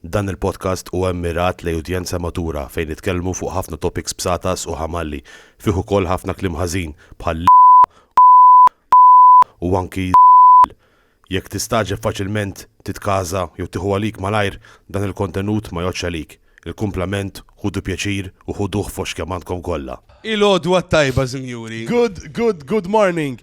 Dan il-podcast huwa mmirat lejn udjenza matura fejn nitkellmu fuq ħafna topics b'satas u ħamalli, fih ukoll ħafna kliem ħażin bħal l, u anki z, jekk tistagħġeb faċilment titkaża jew tieħu għalik malajr dan il-kontenut ma jgħoddx għalik, il-kumplament ħudu pjaċir u ħuduh f'għoxx kemm għandkom kollha. Il-għodwa t-tajba sinjuri. Good, good, good morning.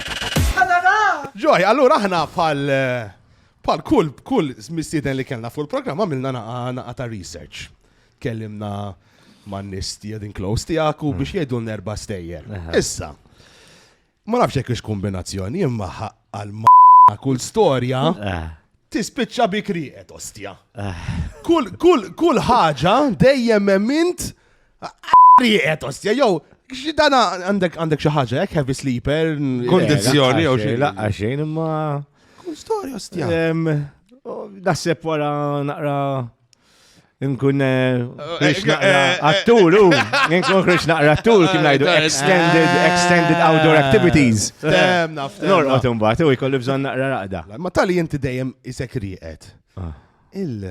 Ġoj, allura aħna bħal bħal kull kull mistieden li kellna fuq il-programm għamilna naqa ta' research. Kellimna man nies din close tiegħek u biex jgħidu nerba stejjer. Issa, ma nafx jekk ix kombinazzjoni imma għal ma kull storja eh. tispiċċa bi kriqet ostja. Eh. Kull kull kull ħaġa dejjem emmint Rieqet, ostja, jew, xidana għandek għandek xi ħaġa, jekk heavy sleeper. Kondizzjoni jew xi. Laqqa xejn imma. Kull storja, ostja. Dasseb wara naqra nkun eh, eh, eh, attur, u nkun krix naqra attur, kien najdu extended, extended outdoor activities. Norqot imbagħad u jkollu bżonn naqra raqda. Ma tali inti dejjem isek rieqed. Ah. Il-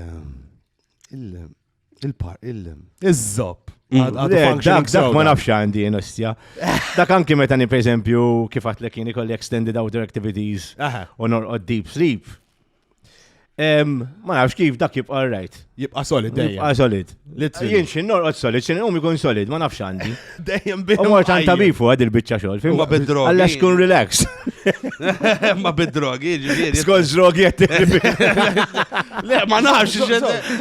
Il-par, il Iż-żob. Mm. Dak ma nafx għandi nostja. Dak anki meta ni pereżempju kif għat l kien ikolli extended outdoor activities u norqod deep sleep. Ma nafx kif dak jibqa' right. Jibqa' solid dejjem. Jibqa' solid. Jien xi norqod solid, xi nqum ikun solid, ma nafx għandi. Dejjem bih. U mort għan tabib fuq għad il-bicċa xol. Ma bid-drogi. Għalla xkun relax. Ma bid-drogi, ġiviri. Skol drogi għed. Le, ma nafx.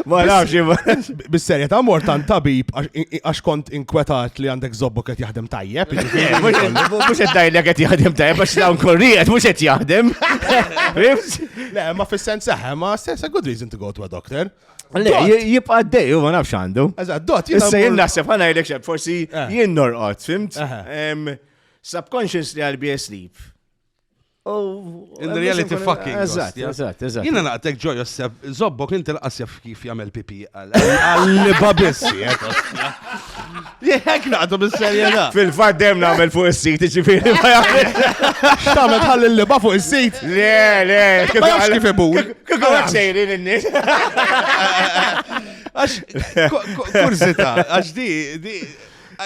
Ma nafx. Bis-serja ta' mort għan tabib għax kont inkwetat li għandek zobbu għed jaħdem tajjeb. Mux għed dajli għed jaħdem tajjeb għax dawn korrijiet mux għed jaħdem. Le, ma fil-sens seħe, ma sens a good reason to go to a doctor. Le, jibqa għaddej, u ma nafx għandu. Eżatt, dot, jibqa. Issa jien naħseb ħana jgħidek xeb, forsi eh. jien norqod, fimt? Subconsciously għal be asleep. In reality fucking. Eżatt, eżatt, eżatt. Jina naqtek ġo Josef, zobbok inti l-qasjaf kif jagħmel pipi għal-liba biss, Jek naqdu bis-serjeta. Fil-fat dem namel fuq il-sit, ġifiri ma jgħamil. Xtamet ħalli l-liba fuq il-sit. Le, le. Ma jgħamil kif ibu. Kiko għak sejrin il-nis. Għax, kurzita, għax di, di,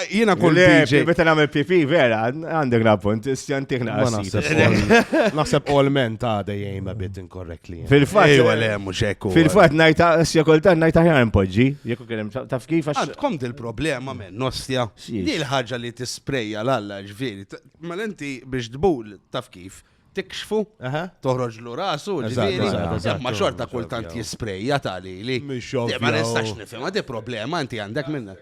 Jena kull DJ. Beta namel pipi, vera, għandek na punt, stjantik na Naħseb all men ta' dejjem a bit inkorrekt Fil-fatt. Ejwa le, mhux hekk. Fil-fatt ngħid asja kultant ngħid aħjar impoġġi, jekk kien hemm taf kif għax. Għandkom dil-problema men, nostja. Di l-ħaġa li tisprejja l-alla ġifieri. Mal mela inti biex tbul taf kif tikxfu, toħroġ l rasu, ġifieri. Ma xorta kultant jisprejja tali li. Ma nistax nifhem, għadi problema inti għandek minna.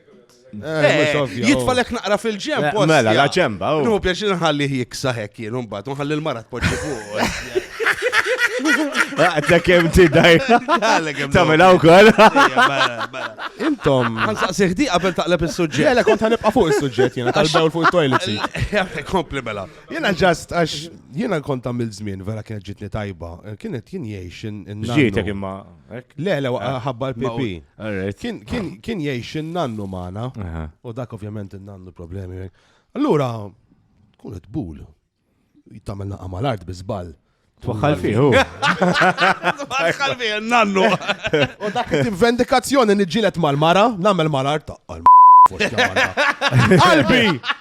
Jitfalek naqra fil-ġemb. Mela, la ġemba. Nu, biex nħalli jiksa hekk jien, un bat, nħalli l-mara tpoġġi fuq. Għadda kem ti daj. Tamil għaw kol. Intom. Għansa seħdi għabel taqleb il-sujġet. Għala kont għanibqa fuq il-sujġet jena tal-bewl fuq il-toilet. Kompli mela. Jena ġast għax jena kont għamil zmin vera kienet ġitni tajba. Kienet jien jiex in-nana. Ġietek imma. Le, le, ah, ħabba l-PP. Kien jgħix il-nannu maħna. U dak ovvjament il-nannu problemi. Allura, tkun it-bul. Jittamel naqqa mal-art bizbal. Twaħħal fiħu. Twaħħal fiħu, nannu. U dak il-vendikazzjoni nġilet mal-mara, namel mal-art. Qalbi,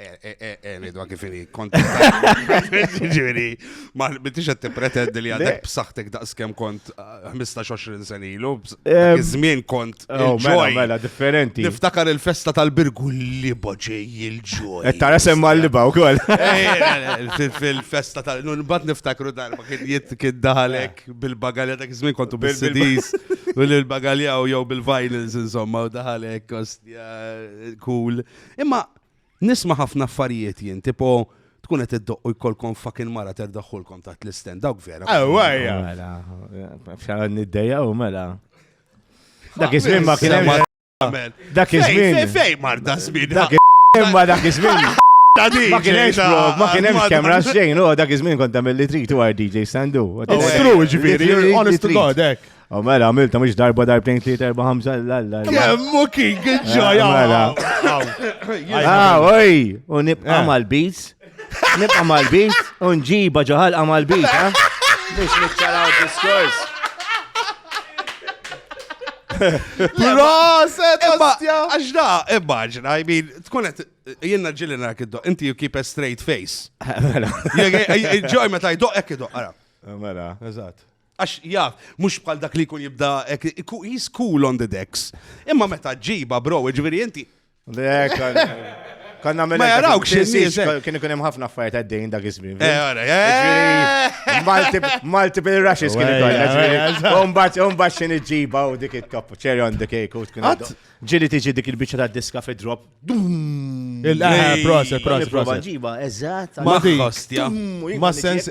Eħni, dwa kifini, konti. Ġiri, ma bittix għed t-pretendi li għadek b'saħtek daqs kem kont 15-20 ah, senilu, iż-żmien kont. Oh, mela, mela, differenti. Niftakar il-festa tal-birgu li boġej il-ġoj. E tara semma li baw kol. Fil-festa tal bat niftakru darba kien jitt kien daħalek bil-bagalja dak iż-żmien kontu bil-sidis, bil-bagalja u jew bil-vinyls insomma u daħalek kostja cool. Imma nisma' ħafna affarijiet jien, tipo tkun qed iddoqq u jkollkom fucking mara terdaħħulkom taħt l-istand, dawk vera. Ewwejja! Mela, f'xara niddejja u mela. Dak iż-żmien ma kien hemm. Dak iż-żmien. Fej marda żmien. Dak imma dak iż-żmien. Ma kien hemm xprov, ma kien hemm kemm ras xejn, u dak iż-żmien kont tagħmel li trid u għar DJ Sandu. True, ġifieri, honest to God, hekk. U mela, għamilta mux darba darbtejn tliet erba ħamsa l-alla. Kemmu kien kien ġoja. Mela. Ah, oj, u nibqa eh. mal-biz. Nibqa mal-biz, u nġiba ġoħal mal-biz, ha? Biex nitċaraw diskors. Proset, ostja! Għax da, immaġina, I mean, tkun għet, jenna ġilli narak id-doq, inti you keep a straight face. Mela. Ġoj, meta id-doq, ekki doq, għara. Mela, eżat. Għax jaf, mhux bħal dak li jkun jibda he's cool on the decks. Imma meta ġiba bro, ġifieri inti. Le, Kan namel. Ma jaraw x'nies. Eh. Kien ikun hemm ħafna affarijiet għaddejn dak iż-żmien. Eh, eh. Multiple rushes kien ikun. Umbat, umbat xi niġġiba u dik it-top cherry on the cake u tkun. Ġili tiġi dik il-biċċa tad-diska fid-drop. Il-qaħar, proset, proset, proset. Ġiba, eżat. Ma di. Ma sens.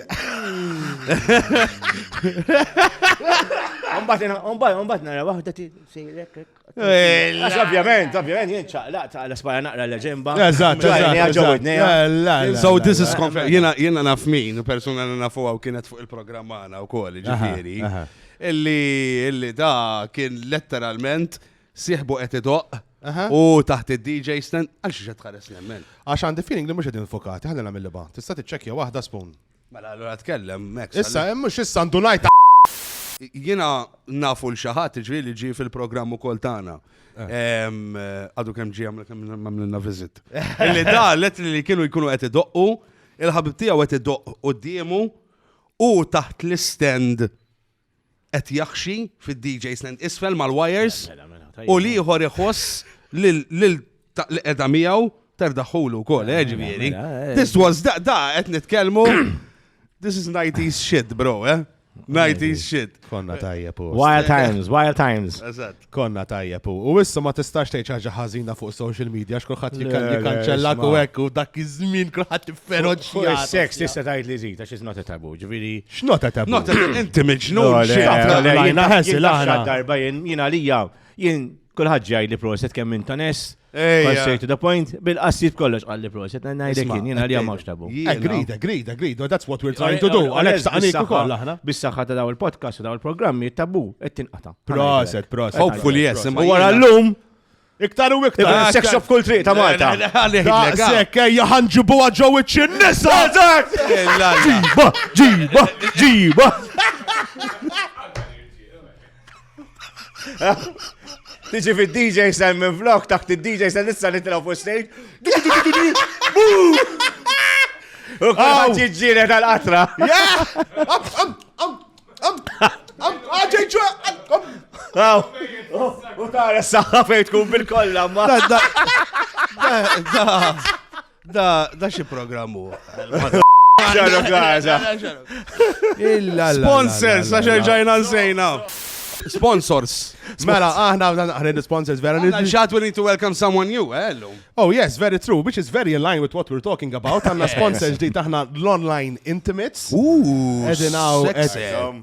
Umbat nara waħda ti sejrek. Għax ovvjament, ovvjament, jien ċaqlaq ta' l-espara naqra l-ġemba. Eżat, eżat. So this is confirmed. Jena naf min, persona li nafu għaw kienet fuq il-programm għana u kol, ġifiri. Illi, illi da kien letteralment Sieħbu qed idoqq Aha. u taħt id-DJ stand għal xi qed tħares nemmen. Għax għandi feeling li mhux qegħdin fokati, ħalli nagħmel liba. Tista' tiċċekkja waħda spoon. Mela allura tkellem Max. Issa hemm mhux issa ndunajt Jiena nafu l xi ħadd ġri li ġi fil-programm ukoll tagħna. Em, eh, Għadu kemm ġi għamlu kemm għamlilna viżit. Illi da let li kienu jkunu qed idoqqu, il-ħabib tiegħu qed idoqq quddiemu u taħt l-istend qed jaħxi fid-DJ stand isfel mal-wires Mela, mela, mela, tajjeb. u l-ieħor iħoss lil lil ta' li qiegħda miegħu terdaħħulu wkoll, eh, ġifieri. mela, eh. This was da da qed nitkellmu This is 90s shit, bro, eh? 90s shit. Konna tajjeb u. Wild times, wild times. Eżatt. Konna tajjeb u u issa ma tistax tgħid xi ħaġa ħażina fuq social media għax kulħadd Le, jikan- le, jikanċellak u isma'. hekk u dak iż-żmien kulħadd Fuq ifferoċja. is-seks tista' tgħid li żid għax iżna titabu, ġifieri. X'nota ta' Not inti Le, miġnun le, xi taf le, tagħmel. jien Lajna, taf- ħessi, jien taf lajna. x'għad darba jien jien għalija jien kulħadd ġej li proset kemm inta ness Ejja. Straight to the point, bil-qassiet kollox qalli proset, najdek Isma', jien, jien għalija mawx tabu. jiena- Agreed, agreed, agreed. Well, That's what we're trying to do. Għalek Għalhekk staqnik bis-saħħa- ukoll aħna. Bis-saħħa ta' daw il-podcast u daw il-programmi, tabu, qed tinqata. Proset, proset. Hopefully, yes, imma U wara jiena- l-lum, Iktar u iktar. Ah, sex ka- of kull triq ta' Malta. Le, le, għalek, Da, le, ga. sekk, ejja ħanġibu għadġo wiċċi n-nisa! Eh, la, la. Ġiba, ġiba, ġiba. Tiġi fi DJ sen minn vlog, taħt il-DJ sen issa nitraw fuq stage. U kħal ġiġġire tal-qatra. U tara s-saħħa fejn tkun bil-kolla ma. Da, da xi programm hu. Ġarra Gaza. Illa. Sponsors, għax ġajna nsejna. Sponsors. Mela, aħna għadna naħred sponsors vera. Xat we need to welcome someone new, eh, hello. Oh yes, very true, which is very in line with what we're talking about. Għanna sponsors di taħna l-online intimates. Ooh, sexy.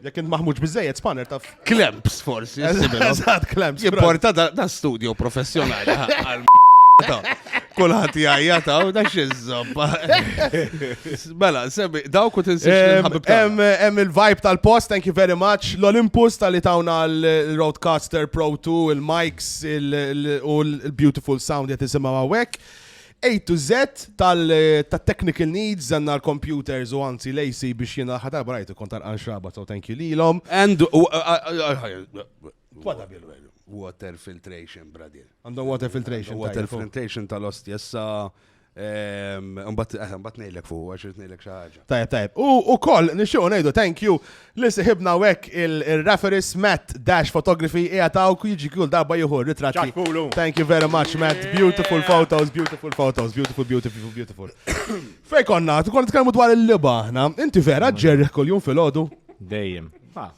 Jekk int maħmuġ biżejjed spanner taf. Klemps forsi. Eżatt klemps. Jimporta da studio professjonali. Kulħadd jgħajja ta' u da xiżżobba. Mela, semmi, dawk u tinsiex Hemm il-vibe tal-post, thank you very much. L-Olympus tal-li tawna l-Roadcaster Pro 2, il-mics u l-beautiful sound jgħet isimgħu għawek. A to Z tal-technical needs għandna l-computers u anzi l-AC biex jiena l-aħħar darba rajt ikun tal-qan xraba so thank you lilhom. And What a bill value. Water filtration, bradir. Għandhom water filtration. Water filtration tal-ost jessa. Mbatt nejlek fuq, għax nejlek xaħġa. Tajab, tajab. U u koll, nixxu nejdu thank you li siħibna wek il-referis Matt Dash Photography jgħataw jiġi kull darba jieħu ritratti. Thank you very much, Matt. Beautiful photos, beautiful photos, beautiful, beautiful, beautiful. Fej konna, konna tkellmu dwar il-liba ħna. Inti vera ġerriħ kull jum fil-ħodu? Dejjem.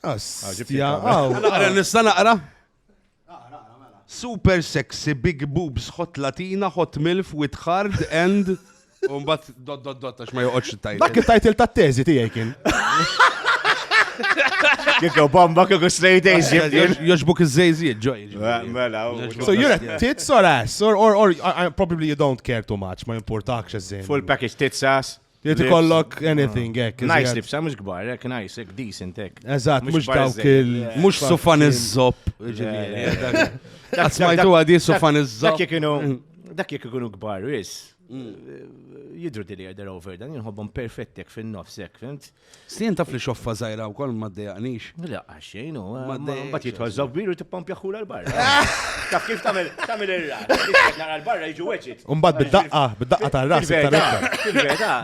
Astja, għaw. Naqra nista naqra? Super sexy, big boobs, hot latina, hot milf, with hard and... Umbat dot dot dot għax ma joqgħodx tajt. Dak it-tajtil tat-teżi tiegħi kien. Kiko bomba kiko straight A's Joġbuk iż-żejżiet ġoj. Mela. So you're a tits or ass or, or, or uh, probably you don't care too much, ma importakx iż Full package tits ass. Jrid ikollok anything hekk. Nice iżjed. libsa, mhux kbar, hekk nice, hekk decent, hekk. Eżatt, mhux kbar dawk żejjed, il. le. Mux sufan iż-żob. ġifieri. Le, le, le. Dak- Smajtu dak- għadi sufan Dak iż-żob. jekk kienu, dak jekk ikunu kbar wis. Jidru dili they're over dan, jinħobbhom perfettek fin-nofsek, fimt? Stien taf li xoffa żgħira wkoll ma ddejaqnix. La, xejn hu. Ma ddejaqx. Mbagħad jidħol żobbir u tippompja ħula l-barra. Taf kif tagħmel tagħmel ir-rat. Tixtieq nara l-barra jiġu weġit. Mbagħad bid-daqqa, bid-daqqa tar-ras iktar iktar. Fil-verità,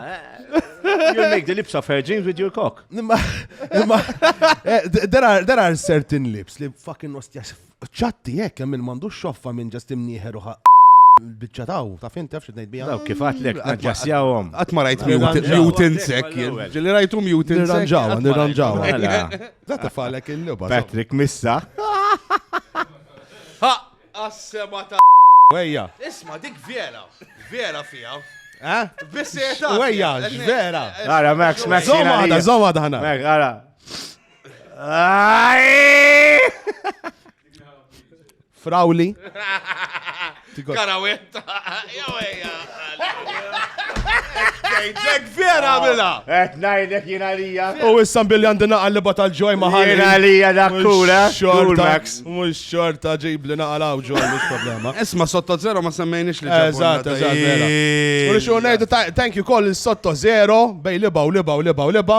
you make the lips of her jeans with your cock. There are certain lips li fucking nostja Ċatti hekk hemm min m'għandux xoffa minn ġast imnieħer u biċċa taw, ta' fin taf xi tgħid biha. Daw kif għatlek naġġassjawhom. Qatt ma rajt mutant sek, ġieli rajtu mutant. Nirranġaw, nirranġaw. Da tifalek il-lubha. Patrick Missa. Ha, assema ta' Wejja. Isma' dik vera, vera fija. Eh? Bisseta. Wejja, vera. Ara, Max, Max. Zomada, zomada ħana. Ara. Frawli. Karawetta. Ġek vera bila. Et najdek jina lija. U issam billi għandi naqal li batal ġoj maħal. Jina lija dak kura. Max. Mux xorta ġib li naqal għaw ġoj, mux problema. Isma sotto zero ma semmejnix li ġoj. Eżat, eżat, vera. U li xo najdu thank you koll sotto zero bej liba u liba u liba u liba.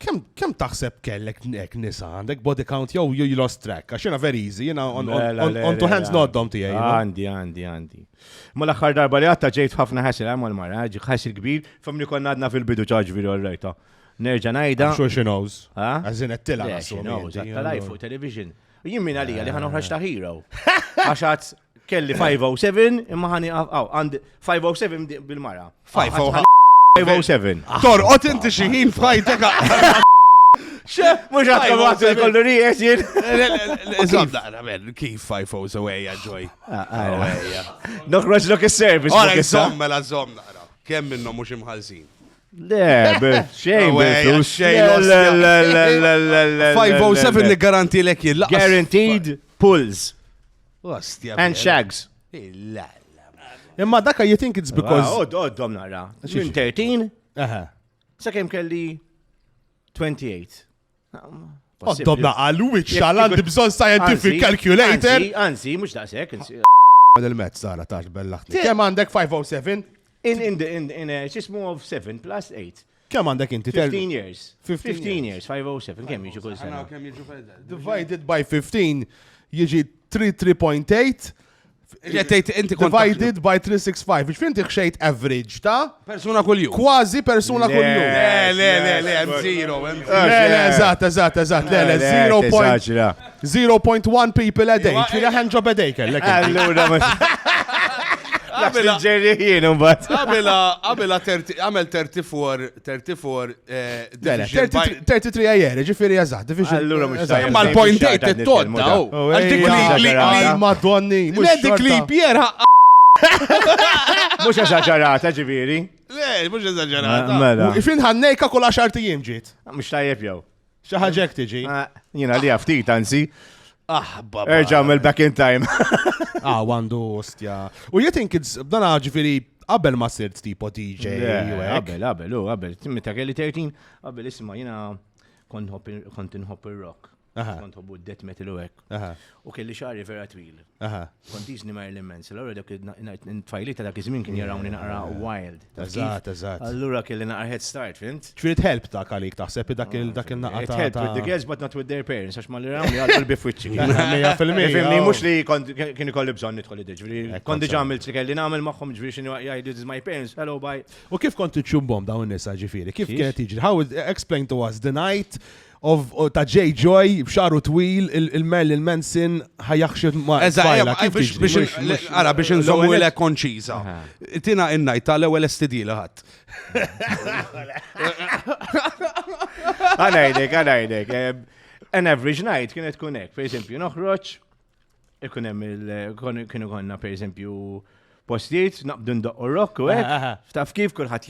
Kem, kem taħseb kellek nek nisa, għandek body count jew you lost track, għax jena very easy, jena on, on, on, on two hands noddom tijaj. Għandi, għandi, għandi. Ma l-axħar darba li għatta ġejt ħafna ħasil għamma l-mara, ħasil kbir, famni konna għadna fil-bidu ċaġ viri għorrejta. Nerġa najda. Sure she knows. Għazin għattila għassu. Għattila fuq television. Jien minn għalija li ħanoħraġ ta' hero. Għax Kelli 507 imma ħani għaw, għand 507 bil-mara. 507. Torqot inti xi ħin f'ħajtek. Xe, mux għat għat kollu rijes jien. Zom daqra men, kif 507 għajja ġoj. Nokroġ lok il-servis. Għara, zom mela zom daqra. Kemm minnom mux imħalsin. Le, xejn, xejn. 507 li garanti l-ek jillaqqa. Guaranteed pulls. Ostja. And shags. Illa. Imma daka you think it's because. Odd, odd, dom nara. Minn 13. Aha. Sa kem kelli 28. Oddom naqa l-witch xal għandi bżon scientific calculator. Anzi, mux daqsek. Għad il-met sara tax bellaħni. Kem għandek 507? In, in, in, in, xismu of 7 plus 8. Kemm għandek inti? 15 years. 15 years, 507, kemm jiġu kull sena? Divided by 15 jiġi 3.8 Ġettejt inti kont. Divided by 365, biex finti xejt average ta' persuna kull jum. Kważi persuna kull jum. Le, le, le, le, zero. Le, le, eżatt, eżatt, eżatt, le, le, 0.0. 0.1 people a day, kira hand job a day kellek. Allura, Għabila ġerri jien imbagħad. Għabila għabila għamel 34 34 33 għajer, ġifieri eżatt, division. Allura mhux tajjeb. Imma l-point date it-todda. Għax dik li madonni. Le dik li Pierre Mux eżagġarata ġiviri. Le, mux eżagġarata. Mela. Fin ħannejka kull għaxar tijiem ġiet. Mux tajjeb jow. Xi ħaġa hekk tiġi. Ah. Jiena li ftit anzi. Ah, baba. Erġa' mill back in time. Ah, għandu ostja. U you think it's dan ġifieri qabel ma sirt tipo DJ. u Yeah, hekk. Qabel, qabel, u qabel. Meta kelli 13, qabel isma' jiena kont nħobb il- kont inħobb ir-rock. Aha. Kont nħobbu d-death metal u hekk. U kelli xari vera twil. Kont jizni ma l-immens. Allora dak il-tfajli ta' dak iż-żmien kien jarawni naqra wild. Eżatt, eżatt. Allura kelli naqra head start, fint? Trid help ta' kalik taħseb dak il-naqra. Trid help with the girls but not with their parents, għax ma li rawni għal bifwiċċi. Mija fil-mija. Mux li kien ikolli bżon nidħol id-ġviri. Kont diġa għamilt li kelli nagħmel magħhom ġviri xinu jgħidu this my parents, hello bye. U kif kont iċċumbom dawn nisa ġifiri? Kif kienet iġri? How explain to us the night? Of ta' J. Joy, b'xaru twil, il-Merlin Manson ħajaxxed ma' Eżatt, biex ara biex nżommu l konċiża. Tina innajt ta' l-ewwel STD li ħadd. Għanajdek, għanajdek. An average night kienet kunek, per eżempju, noħroġ Ikun hemm il kienu konna pereżempju postijiet naqbdu ndoqqu rock u hekk. Ah, ah. Taf kif kulħadd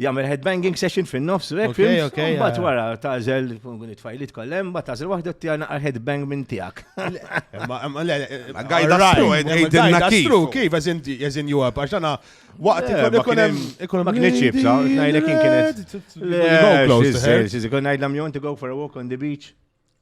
jagħmel headbanging session fin-nofs u hekk. Mbagħad wara tażel it-tfajlit kollem, mbagħad tażel waħda tjana għal headbang minn tiegħek. Gajda stru, għidilna kif. Kif, as in Europe, għax għana waqt ikun hemm ikun ma kienx jibsa, ngħidlek kien kienet. Go close. Konna ngħidlam you want to go for a walk on the beach.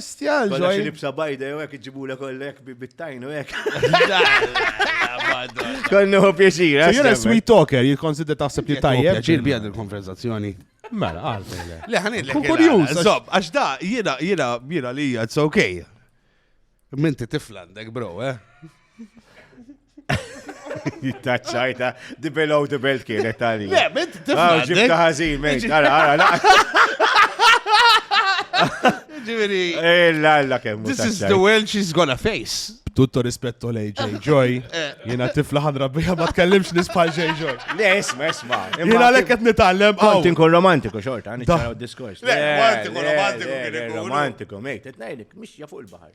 Stjal, ġoj. Xi libsa bajda jew hekk iġibulek kollek bit-tajn u hekk. Kollu hu pjaċir. Eh, jiena sweet talker, jikkonsidra taħseb li tajjeb. Pjaċir bija il-konverzazzjoni. Mela, għalfejle. Le, ħanid l-ek. Kurjus. Zob, għax da, jiena, jiena, jiena li it's okay. Minti tiflandek, bro, eh? Taċċajta, di below the belt kienet tali. Le, bint, tifna. Ġibta ħazin, mejt, għara, għara, Ġiviri. Ella, eh, ella, kemm. This is the world she's gonna face. Tutto rispetto lei, J. Joy. Eh. Jena tifla ħadra bija ma tkellimx nisbħal J. Joy. Le, isma, isma. Jena lekk qed nitgħallem. Kont inkun romantiku xorta, nitgħallem diskors. Le, kont inkun romantiku kien ikun. Romantiku, mejt, qed ngħidlek, mixja fuq il-baħar.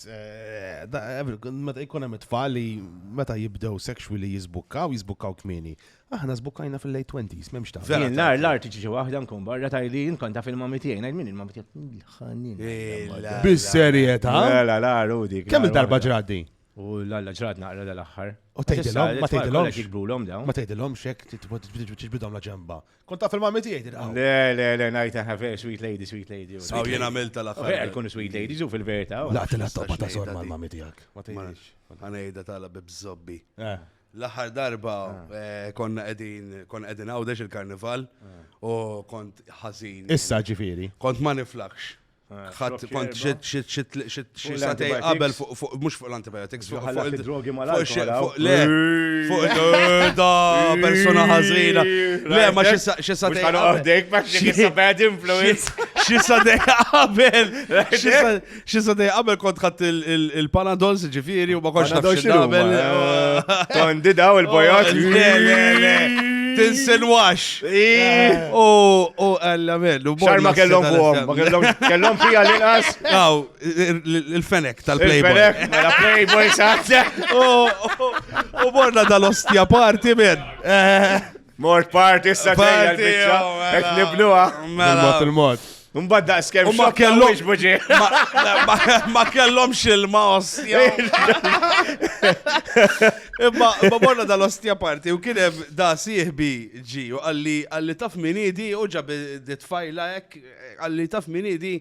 Meta jkun hemm it-tfal li meta jibdew sexually jizbukkaw, jizbukkaw kmini. Aħna zbukkajna fil-late 20s, memx ta' Vera. Nar l-art ġiġi waħda nkun barra ta' li nkun ta' fil-mami tiegħi, ngħid min il-mami tiegħi ħannin. Bis-serjetà? La la Rudi. Kemm il-darba ġraddi? U l-alla ġrad naqra dal-aħħar. U tgħidilhom, ma tgħidilhomx. Ma tgħidilhomx hekk tibidhom la ġemba. Kont taf il-mami tiegħi din qawwa. Le, le, le, ngħid aħna vera sweet lady, sweet lady. Aw jien għamilt tal-aħħar. Vera tkun sweet lady, żu fil-verità. Laqtilha tobba ta' sor mal-mami tiegħek. Ma tgħidx. Ħanejda tala bi bżobbi. Eh. L-aħħar darba eh. Eh, konna qegħdin kon qegħdin għawdex il-karnival u kont ħażin. Issa ġifieri. Kont ma niflakx. ħadd kont xi satej qabel fuq mhux fuq l-antibiotics fuq il-drogi mal fuq le fuq da persuna ħażina. Le ma xi satej qabdek ma xi bad influence. Xi satej qabel xi satej qabel kont ħadd il-panadol ġifieri u ma kontx naf xi qabel. Tondi daw il-bojot. Tinsinwax. U u għalla minn. Xar ma kellhom fuqhom, ma kellhom kellhom fija l-inqas. Aw, il-fenek tal-Playboy. Il-fenek, mela Playboy saħta. U morna dal-ostja parti minn. Mort parti issa ġejja l-bicċa. Qed nibnuha. Mela. Il-mod, il-mod. Mbagħad daqs kemm ma kellhomx buġi. Ma kellhomx ilma ostja. Imma ma morna dal-ostja parti u kien hemm da sieħbi ġi u qalli qalli taf min idi u ġab ditfajla hekk qalli taf min idi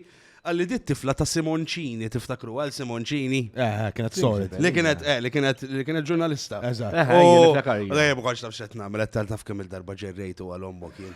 għalli dit tifla ta' Simoncini, tiftakru għal Simoncini. Eh, eh kienet sorit. Li kienet, eh, li kienet, li kienet ġurnalista. Eżatt. Eh, eh, u għajja bħalx taf xet namel, tal taf kemm il-darba ġerrejtu għal ommok jien.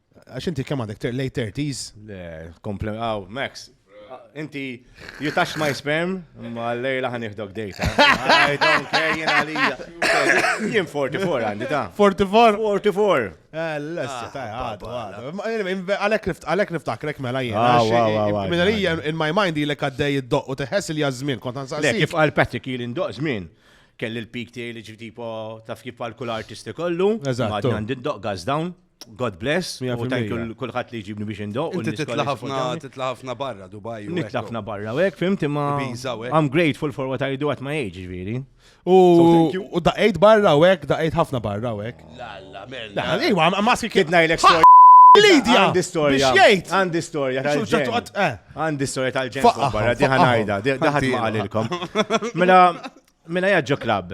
Għax inti kemm għandek late 30s? Le, komplem, għaw, Max, inti you touch my sperm, ma l-lejla ħan iħdok dejta. I don't care, jien għalija. Jien 44 għandi ta. 44? 44. Eh, l-lessa, ta' għadu, għadu. Għalek niftakrek mela jien. Ah, ah, Minna li in my mind li kaddej id-doq u teħess li jazmin, kont għansa. Le, kif għal Patrick il doq zmin kelli l-pik tiegħi li ġifieri tipo taf kif għal kull artisti kollu. Eżatt. Għandi doq gaz dawn. God bless, u thank you l-kulħat li ġibni biex indo. Inti titla ħafna, titla ħafna barra Dubai. Nitla ħafna barra, u għek, fimti ma. I'm grateful for what I do at my age, ġviri. U daqajt barra u għek, daqajt ħafna barra u għek. La, la, mella. La, ejwa, maski kidna il story. Lidja! Għandi storja. Għandi storja eh. Għandi storja tal-ġen. Barra, diħanajda, diħat ma għalilkom. Mela, mela jaġġo klab.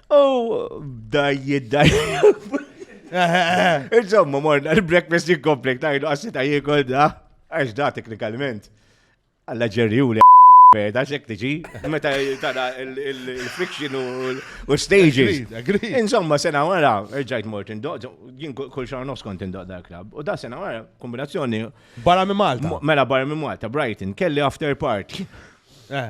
U dajjid dajjid. Insomma, morna l-breakfast jikkompli, tajdu għassi ta' jikol da, għax da teknikalment. Alla ġerju li beda xek tiġi, meta tara il-friction u stages. Insomma, sena wara, ġajt mort indoq, jien kull xar nofs kont indoq da klab. U da sena wara, kombinazzjoni. Barra minn Malta. Mela barra minn Malta, Brighton, kelli after party. Eh.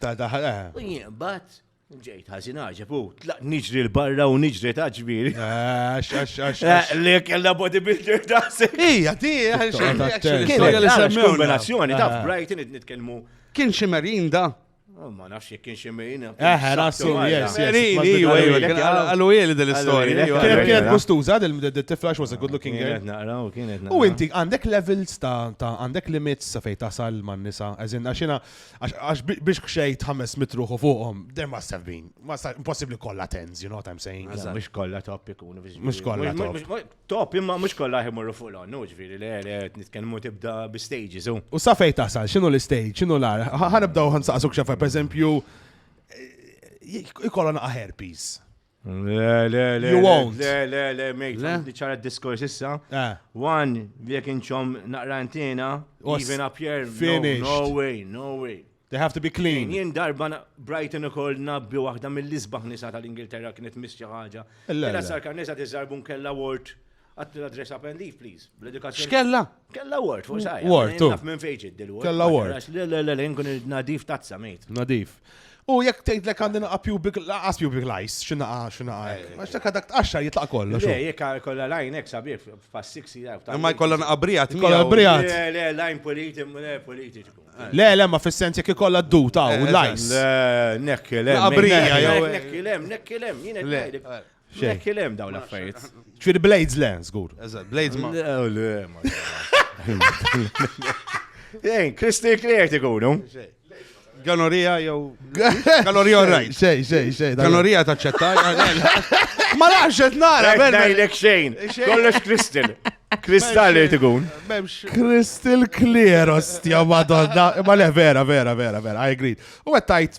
Ta' daħal, eh. U jien bat, ġejt ħazin għagħeb u tlaq niġri l-barra u niġri ta' ġbiri. Għax, għax, għax. Eh, li kella bodybuilder ta' se. Ija, ti, għax. Kienet li semmi kombinazzjoni ta' Brighton id nitkellmu. Kien ximerin da. Oh, ma nafx jek kien ximerin. Eħe, rasu, yes, yes. Għallu jeli dell-istoria. Kienet gustuza del-tifla xwas a good looking girl. U inti għandek levels ta' għandek limits sa' fej tasal man nisa. Għazin, għaxina Għax biex xejt ħames mitruħu fuqhom, there must have been. Impossibli kollha tens, you know what I'm saying? Mux kollha top ikun. Mux kollha top. Top, imma mux kollha jimurru fuq l-onnu, ġviri, le, le, nitkellmu tibda bi stages. U sa fej tasal, xinu l-stage, xinu l-ar? Ħanibdaw ħansaqsuk xafa, per eżempju, jkollon herpes. Le, le, le. You won't. Le, le, le, mate. Di ċara diskors issa. Eh. One, jek inċom naqrantina, even up here. Finish. No way, no way. They have to be clean. Jien darba Brighton ukoll nabbi waħda mill-isbaħ nisa tal-Ingilterra kienet misċi ħaġa. Illa sar kan nisa tiżarbun kella ward Għatti l-address up and leave, please. Bl-edukazzjoni. X'kella? Kella word, fuq sajja. Word, tu. Naf minn fejġid dil-word. Kella word. Le, le, le, le, nkun nadif tazza, mejt. Nadif. U jekk tgħid lek għandi naqa' pubic laqas pubic lice, x'inaqa x'inaqa. Eh. Għax dak dak tqaxxar jitlaq kollu. Le, jekk kollha lajn hekk sabiħ fas-siksi jaf. Imma jkollha naqa' brijat. Kollha brijat. Le, le, lajn politi, le politiku. Eh. Le, le, ma fis-sens jekk ikollha d-duta u eh, lice. Le, nekkilem. Naqa' brija jew. Nekkilem, nekkilem, jien qed Xejn. Jekk il-hemm dawn l-affarijiet. Ġifieri Blades le, żgur. Eżatt, Blades ma. Ejn, Kristi Clear tikunu. Ganorija jew. Ganorija all right. Xejn, xejn, xejn. Ganorija taċċetta. Ma nafx qed nara, Berna. Ngħidlek xejn. Kollox Kristin. Kristall li tikun. Crystal clear, ostja, madonna. Ma le, vera, vera, vera, vera, I agree. U għed tajt,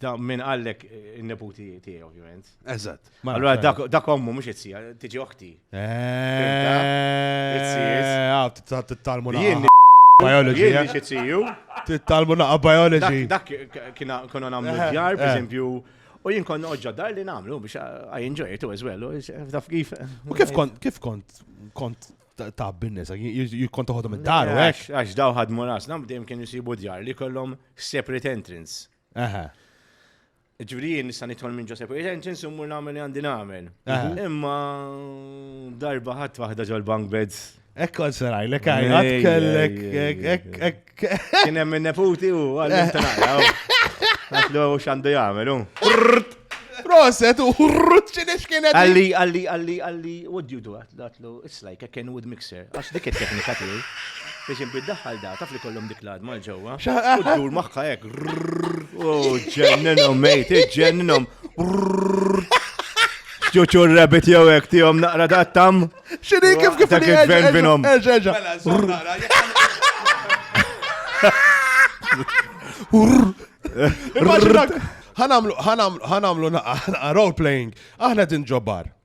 Da minn għallek il-neputi eh, tiegħi ovvjament. Eżatt. Allora dak ommu mhux itzija, tiġi oħti. Tittalmu biology. Jien xi tziju. Tittalmu naqa biology. Dak kiena konna nagħmlu eh, djar, per eh. eżempju, U jien kont noqġa dar li namlu biex I enjoy it as well. Taf kif. U kif kont kif kont kont ta' binnis, jikont toħodhom id-dar u hekk. Għax daw ħadmu ras, nam dejjem kien jisibu djar li kollhom separate entrance. Aha. Ġviri jien nista' nidħol minn Ġosep Retentions u mmur nagħmel li għandi nagħmel. Imma darba ħadd waħda ġol bank beds. Ekk kont saraj, lek għajat kellek, ekk, ekk. Kien hemm minn neputi u għallim tanaqra. Għatlu xandu jagħmel, u. Proset u rrut x'inix kienet. Għalli, għalli, għalli, għalli, what do you do? Għidlu, it's like a Kenwood mixer, għax dik it-teknika tiegħi. Biex inbid daħħal da, taf li kollhom dik l-adma l-ġewwa. U dur magħha hekk. U ġenninhom mejt, ġenninhom. Ġuċu rabbit jew hekk tihom naqra dattam. X'inhi kif kif dak il-gvern binhom. Ħanamlu ħanamlu ħanamlu naqra role playing. Aħna din ġobbar.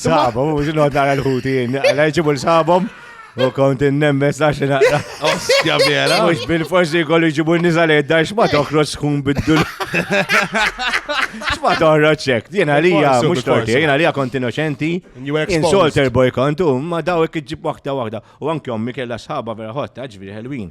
Sabom, mux nod nara l-ħutin, għala jġibu l-sabom. U kont innembes għax naqra. Ostja vera. Mux bil-forsi kollu jġibu n-nizal edda, xma toħroċ tkun biddu. Xma toħroċ ċek. Jena lija, mux torti, jena lija kont innoċenti. Insolter boy kont, u ma dawek iġib wahda wahda. U anki ommi kella sħaba vera ħotta, ġviri ħelwin.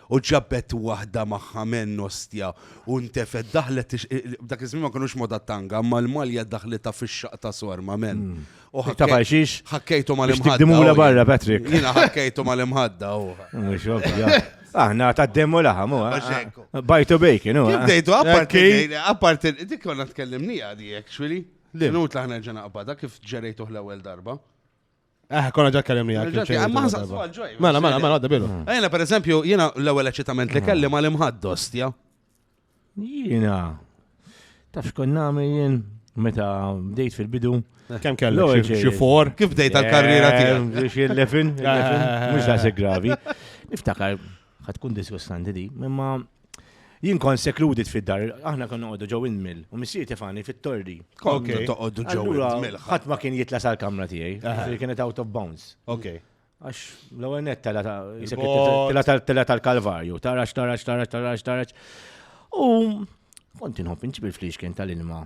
U ġabet waħda magħha menn ostja u ntefgħet daħlet dak iż-żmien ma kinux moda t-tanga, imma l-malja daħlitha fix-xaqq ta' sorma menn. Hmm. U ħakkejtu mal-imħadda. Dimula barra, Patrick. Jiena ħakkejtu mal-imħadda u. Aħna ta' demmu laħa, mu. Bajtu bejkin, u. Bdejtu, apparti, apparti, dik konna tkellimni għadi, actually. Nut laħna ġena qabada kif ġerejtuħ l-ewel darba. Eh, konna ġa kellim li għakki. Mela, mela, mela, għadda bilu. Mm. Ejna, per eżempju, jena l-ewel eċitament li mm. kelli ma l-imħaddos, ja? Jena. Taf xkun nami jien meta bdejt fil-bidu. Eh. Kem kellu? Xifor? Kif bdejt għal-karriera eh, tiegħek? Biex il-lefin, mux da gravi. Niftakar, Ħa tkun disgustanti di, imma Jien kon sekludit fid-dar, aħna kon noqogħdu ġew il-mil, u missier tifani fit-torri. Kon toqogħdu ġew il-mil. Ħadd ma kien jitla sal-kamra tiegħi, li kienet out of bounds. Ok. Għax l-ewwel net tela tal-kalvarju, tarax, tarax, tarax, tarax, tarax. U kont inħobb inġib il-flix kien tal-ilma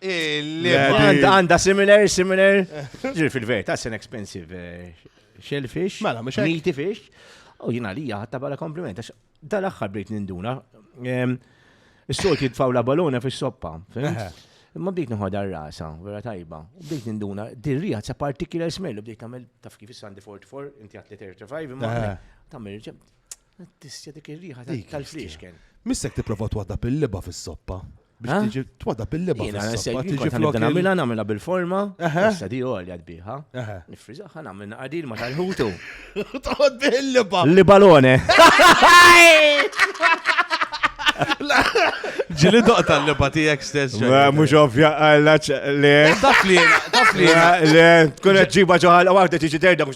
Għanda similar, similar. Ġir fil-verta, it's an expensive eh, shellfish. Mela, mux Meaty fish. U jina li ħatta bħala kompliment. Dal-axħar bdejt ninduna. Is-solti jitfaw la balona fis soppa Imma bdejt nħodha rasa, vera tajba. U bdejt ninduna, dirrija ta' particular smell, u bdejt tagħmel taf kif is-Sandy 44, inti għat 35, imma tagħmel ġem. Tissja dik ir-riħa tal-friexken. Missek tipprova twadda pil-liba fis-soppa. Biex Eh? tiġi twada bil-liba. Jena, fis-soppa, se tiġi jikon flok il- namila, namila bil-forma. Eħe. Issa di għolja tbiħa. Eħe. Nifrizaħa namil naqadil ma tal-ħutu. Toqgħod bil-liba. Li balone. Ġili doqta l-liba tiegħek stess. Ma, Mhux ovvja għallaċ le. Taf li jena, taf li jena. Le, tkun qed ġiba ġo ħalqa waħda tiġi terda mhux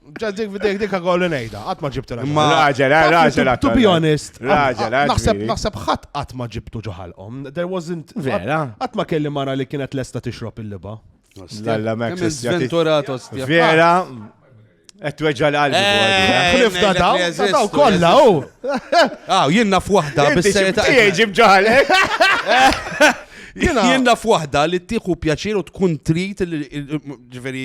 Ġa dik f'dejk dik għagħol ngħidha, qatt ma ġibtilha. Imma raġel, eh, raġel. Eh, to be honest, raġel, eh, naħseb naħseb ħadd qatt ma ġibtu ġoħalqhom. There wasn't. Vera. Qatt ma kelli mara li kienet lesta tixrob il-liba. Lalla mek. Sventurato stja. Vera. Et tweġġa l-qalbi. Eh, Ħlifna daw, daw kollha u. Aw, jien naf waħda bis-sejta. Ġib ġoħalek. Jien naf waħda li tieħu pjaċir u tkun trid ġifieri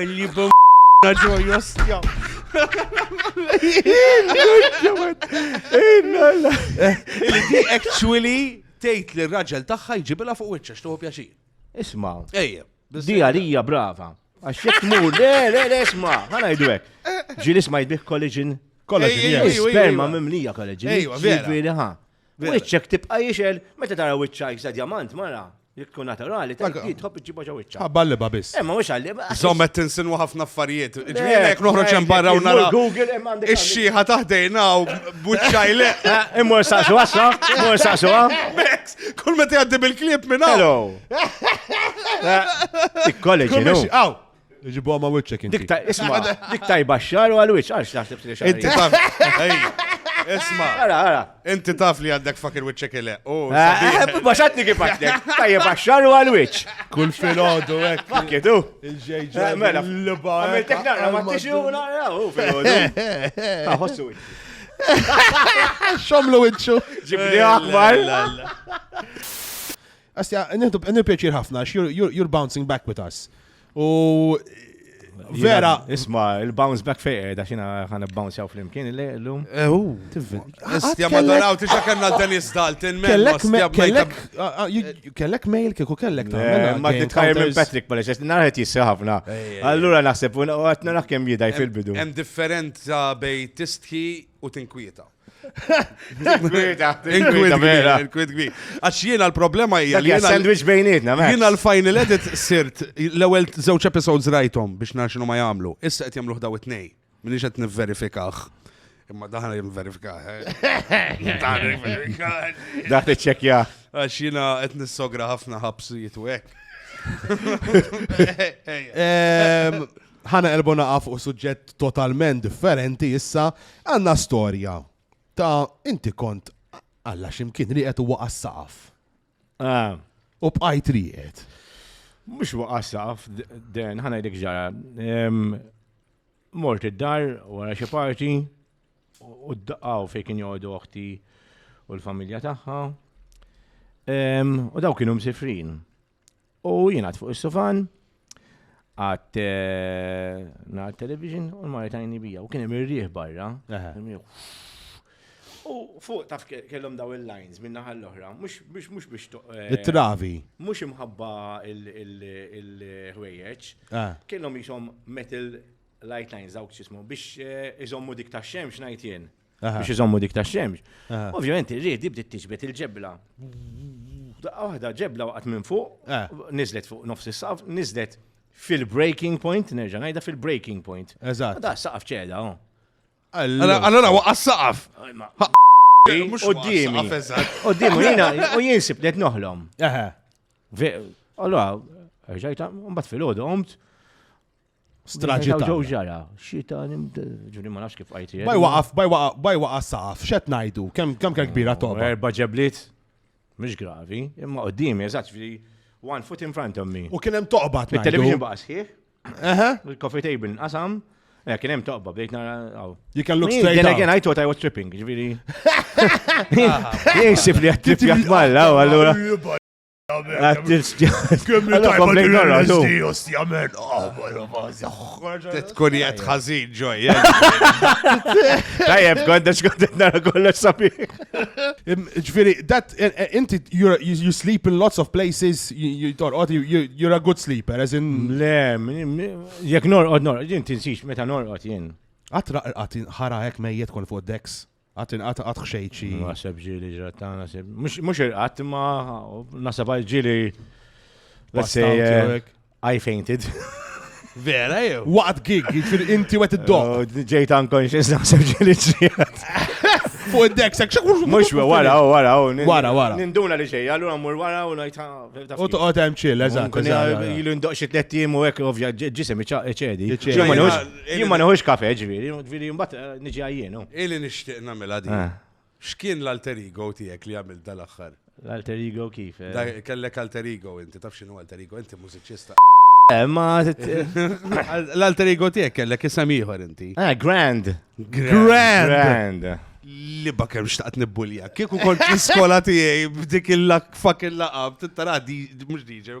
Illi bum ġoj ostja. Illi di actually tgħid li r-raġel tagħha jġibilha fuq wiċċa xtuħu pjaċir. Isma. Ejja. Di għalija brava. Għax jek tmur, le, le, le, isma, ħana jdu hekk. Ġieli isma jbih kollaġin. Kollaġin, sperma mimlija kollaġin. Ejwa, vera. Ġifieri ħa. Wiċċek tibqa' jixel meta tara wiċċa jisa diamant mara. Jek tkun naturali, ta' Dak- jitħob iġġibha ġo wiċċa. Ħabba l-liba biss. Imma mhux għalli. Zom qed tinsinwa ħafna affarijiet. Ġifieri jekk noħroġ hemm barra u nara Google imma għandek. ix-xieħa taħdejna u b'wiċċaj le. Eh, Immur saqsu għassa, immur saqsu għam. Bex, kull meta jgħaddi bil-klieb minn hawn. Hello. Eh, Ikkoleġi, Kull no? mexi- Aw, Ġibu għama wicċek inti. Isma, dik tajba xar u għal wicċ, għal xnaħseb li xar. Inti taf, isma. Għara, għara. Inti taf li għandek fakir wicċek il Baxatni kif għaddek, tajba xar u għal wicċ. Kull fil-ħodu, ek. Fakkitu. Il-ġejġa. Eh, mela, l-ba. Għamiltek naqra, ma t-tixi u naqra, u fil-ħodu. Għahossu Xomlu wicċu. Ġibni akbar. Asja, nieħdu pjaċir ħafna, għax you're bouncing back with us. U Vera. Isma, il-bounce back fej edha eh, xina ħan bounce jaw fl-imkien il-lum. Ehu. Istja ma daraw tiġa kanna Dennis Dalton. Kellek, kellek mail kieku kellek ta' eh, Ma titħajr minn Patrick ma leċess, narħet jissi ħafna. Allura naħseb, u għatna naħkem jidaj fil-bidu. Hemm differenza bej tistħi u tinkwieta. Għax jiena l-problema hija li jiena sandwich bejnietna. Jiena l-final edit sirt l-ewwel żewġ episodes rajthom biex nara x'inhu ma jagħmlu. Issa qed jagħmlu ħdaw it-tnej. Minix qed nivverifikah. Imma daħna jim verifika. Daħt iċċekja. Għax jina qed nissogra ħafna ħabsijiet u hekk. Ħana elbu naqa' fuq suġġett totalment differenti issa għandna storja ta' inti kont alla ximkien li qed huwa għas-saqaf. Ah. U bqajt riqet. Mux waqasaf, den, ħana jdek ġara. Mort id-dar, wara xie parti, u d-daqqaw fej kien joqdu oħti u l-familja taħħa. U daw kienu msifrin. U jina fuq is-sofan, għat eh, nar television u l-mara tajni bija. U kien hemm ir-rieħ barra. U fuq taf kellhom daw il-lines minna naħa l-oħra, mhux mhux biex eh, it-travi. Mhux imħabba il-ħwejjeġ. Ah. Kellhom jisom metal light lines dawk x'ismu biex eh, iżommu dik tax-xemx ngħid jien. biex iżommu dik tax-xemx. Ovvjament ir-riħ di bdiet tiġbed il-ġebla. Daqqa waħda ġebla waqgħet minn fuq, eh. niżlet fuq nofs is-saqaf, niżlet fil-breaking point, nerġa' ngħidha fil-breaking point. Eżatt. Da saqaf ċeda, oh. Allora waqqa saqaf. Qoddimi. Qoddimi, jina, u jinsib li noħlom. Allora, ġajta, mbagħad fil-ħodu, omt, Straġi ta' ġew ġara, xita ġuri ma nafx kif għajti. Baj waqaf, baj waqaf, baj waqaf saqaf, xet najdu, kem kem kem kbira toba. Erba ġeblit, mux gravi, imma qoddimi, eżat, one foot in front of me. U kienem toqba. Il-television baqa sħiħ. Eħe. Il-coffee table nqasam. Eh, kien hemm toqba bdejt nara. You can look straight. Then again I thought I was tripping, ġifieri. Jinsib li qed trippjak malla, allura. Tkun jgħat ħazin ġoj. Tajjeb, kondex kondet nara kollox sabi. Ġviri, that, eh, eh, inti, you sleep in lots of places, you torqod, you're a good sleeper, as in. Le, jek norqod, norqod, jien tinsix, meta norqod jien. Għatra għatin ħara hekk mejjet kon fuq deks. Għat inqat għat xejċi. Nasab ġili ġrattana, mux irqat, ma nasab għal ġili. I fainted. Vera jew? Waqt gig, jifir inti wet id-dog. Oh, ġejt unconscious nasab ġili ġrat. Fuq id-dek, sekk xek mux wara, wara, wara, wara. Ninduna li xej, għallura mur wara u najta. U toqgħod hemm ċill, eżatt. Ilu ndoq xi tliet u hekk ovvja ġisem iċedi. Jien ma neħux kafe, ġviri, ġviri, mbatt eh, niġi għajjenu. Ili nishtiq namela di. Ah. X'kien l-alter ego tiegħek li għamil dal-aħħar? L-alter ego kif? Eh? Kellek alter ego inti, taf x'inhu alter ego, inti mużiċista. Eh, ma l-alter ego tiegħek kellek isem ieħor inti. Ah, grand. Grand. Grand. Li bakem xtaqt nibbulja. Kieku kont l-iskola tiegħi b'dik il-lak fucking laqab, tittara di mhux DJ,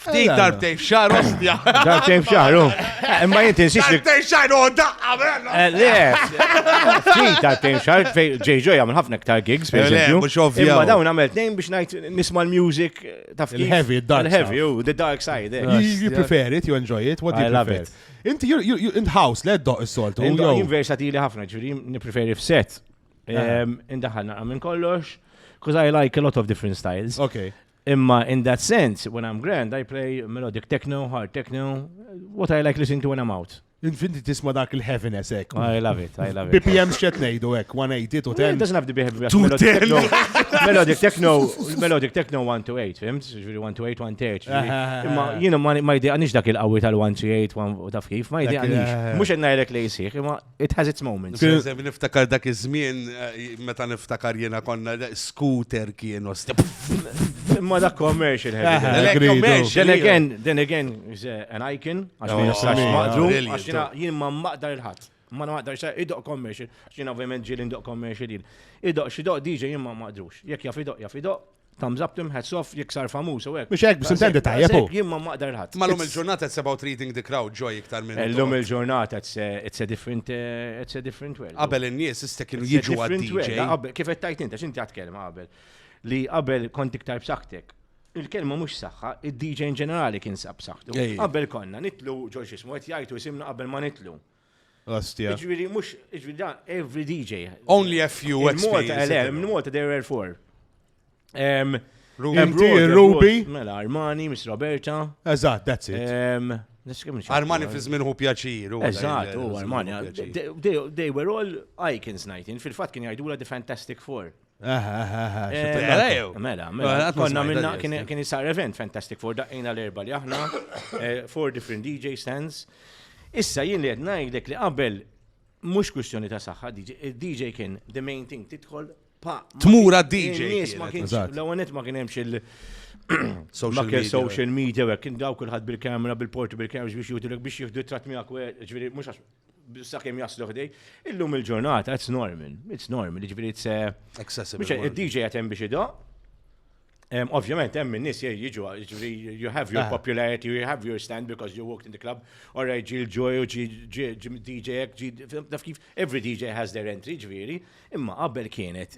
Ftit darbtej f'xar ostja. Darbtej f'xar, u. Eh, imma jinti nsiex li. Darbtej f'xar, u daqqa, bella. Eh, le, ftit darbtej f'xar, ġej ġoj għamil ħafna ktar gigs, per eh, eżempju. Imma dawn għamil tnejn biex najt nisma l-music taf. Il-heavy, dark. Il-heavy, u the dark side. You prefer it, you enjoy it, what do you prefer? Inti, in house, le doq is-soltu. Jien versatili ħafna, ġuri, nipreferi f'set. Indaħalna għamin kollox, because I like a lot of different styles. Okay. Imma in that sense, when I'm grand, I play melodic techno, hard techno, what I like listening to when I'm out. Infinti tisma dak il-heaviness ek. I love it, I love it. BPM xċet nejdu ek, 180 to 10. Doesn't have to be heavy. Melodic techno, melodic techno 1 to 8, fimt? Ġviri 1 to 8, 1 to 8. Imma jina ma jdi għanix dak il-qawi tal-1 to 8, taf kif, ma jdi għanix. Mux għedna jrek li jisir, imma It has its moments. Niftakar dak iż-żmien eh, meta niftakar jiena konna scooter kien osti. Ma dak commercial heavy. Commercial. Then again, then again, is eh, an icon, għax ma jistax maqdru, għax jien ma maqdar il-ħadd. Ma naqdar sa idoq commercial, għax jien ovvjament ġieli ndoq commercial jien. Idoq xidoq DJ jien ma maqdrux. Jekk jaf idoq jaf idoq, Thumbs up tim hats off jiksar famuż u hekk. Mhux hekk, biex intendi tajjeb hu. Jien ma maqder ħadd. Mallum il-ġurnata it's about reading the crowd joy iktar minn. Illum il-ġurnata it's a different it's a different world. Qabel in-nies issa kienu jiġu għad-DJ. Kif qed tajt inti, x'inti għad kelma qabel. Li qabel kont iktar b'saktek. Il-kelma mhux saħħa, id-DJ in ġenerali kien sab saħħtu. Qabel konna nitlu ġol xismu qed jgħidu isimna qabel ma nitlu. Ostia. Ġviri, mux, ġviri, da, every DJ. Only a few experiences. Eh, Mnumota, there were four. Um, Ruby, Ruby. Mela, Armani, Miss Roberta. Eżat, that's it. Um, Armani fi żmien hu pjaċir. Eżatt, u Armani. They were all icons, Nightin. Fil-fatt kien jgħidula The Fantastic Four. Mela, mela, konna minna kien jisar event fantastic for daqqina l-erba li aħna, eh, four different DJ stands. Issa jien li għed najdek li qabel mux kustjoni ta' saħħa, DJ kien the main thing titħol pa. Tmura DJ. Nis ma kienx, l-għonet ma kienemx il- social media. social media, kien daw kullħat bil-kamera, bil-porti, bil-kamera biex jutilek biex jihdu tratmijak, ġviri, mux għax sakemm jaslu ħdej. Illum il-ġurnata, it's normal, it's normal, ġifieri it's eh, accessible. Biex id-DJ qed hemm biex idoq. Ovvjament hemm in-nies jiġu, ġifieri you have your ah. popularity, you have your stand because you walked in the club, or ġi l-ġoj u ġi DJ, ġi naf kif, every DJ has their entry, ġifieri. Imma qabel kienet,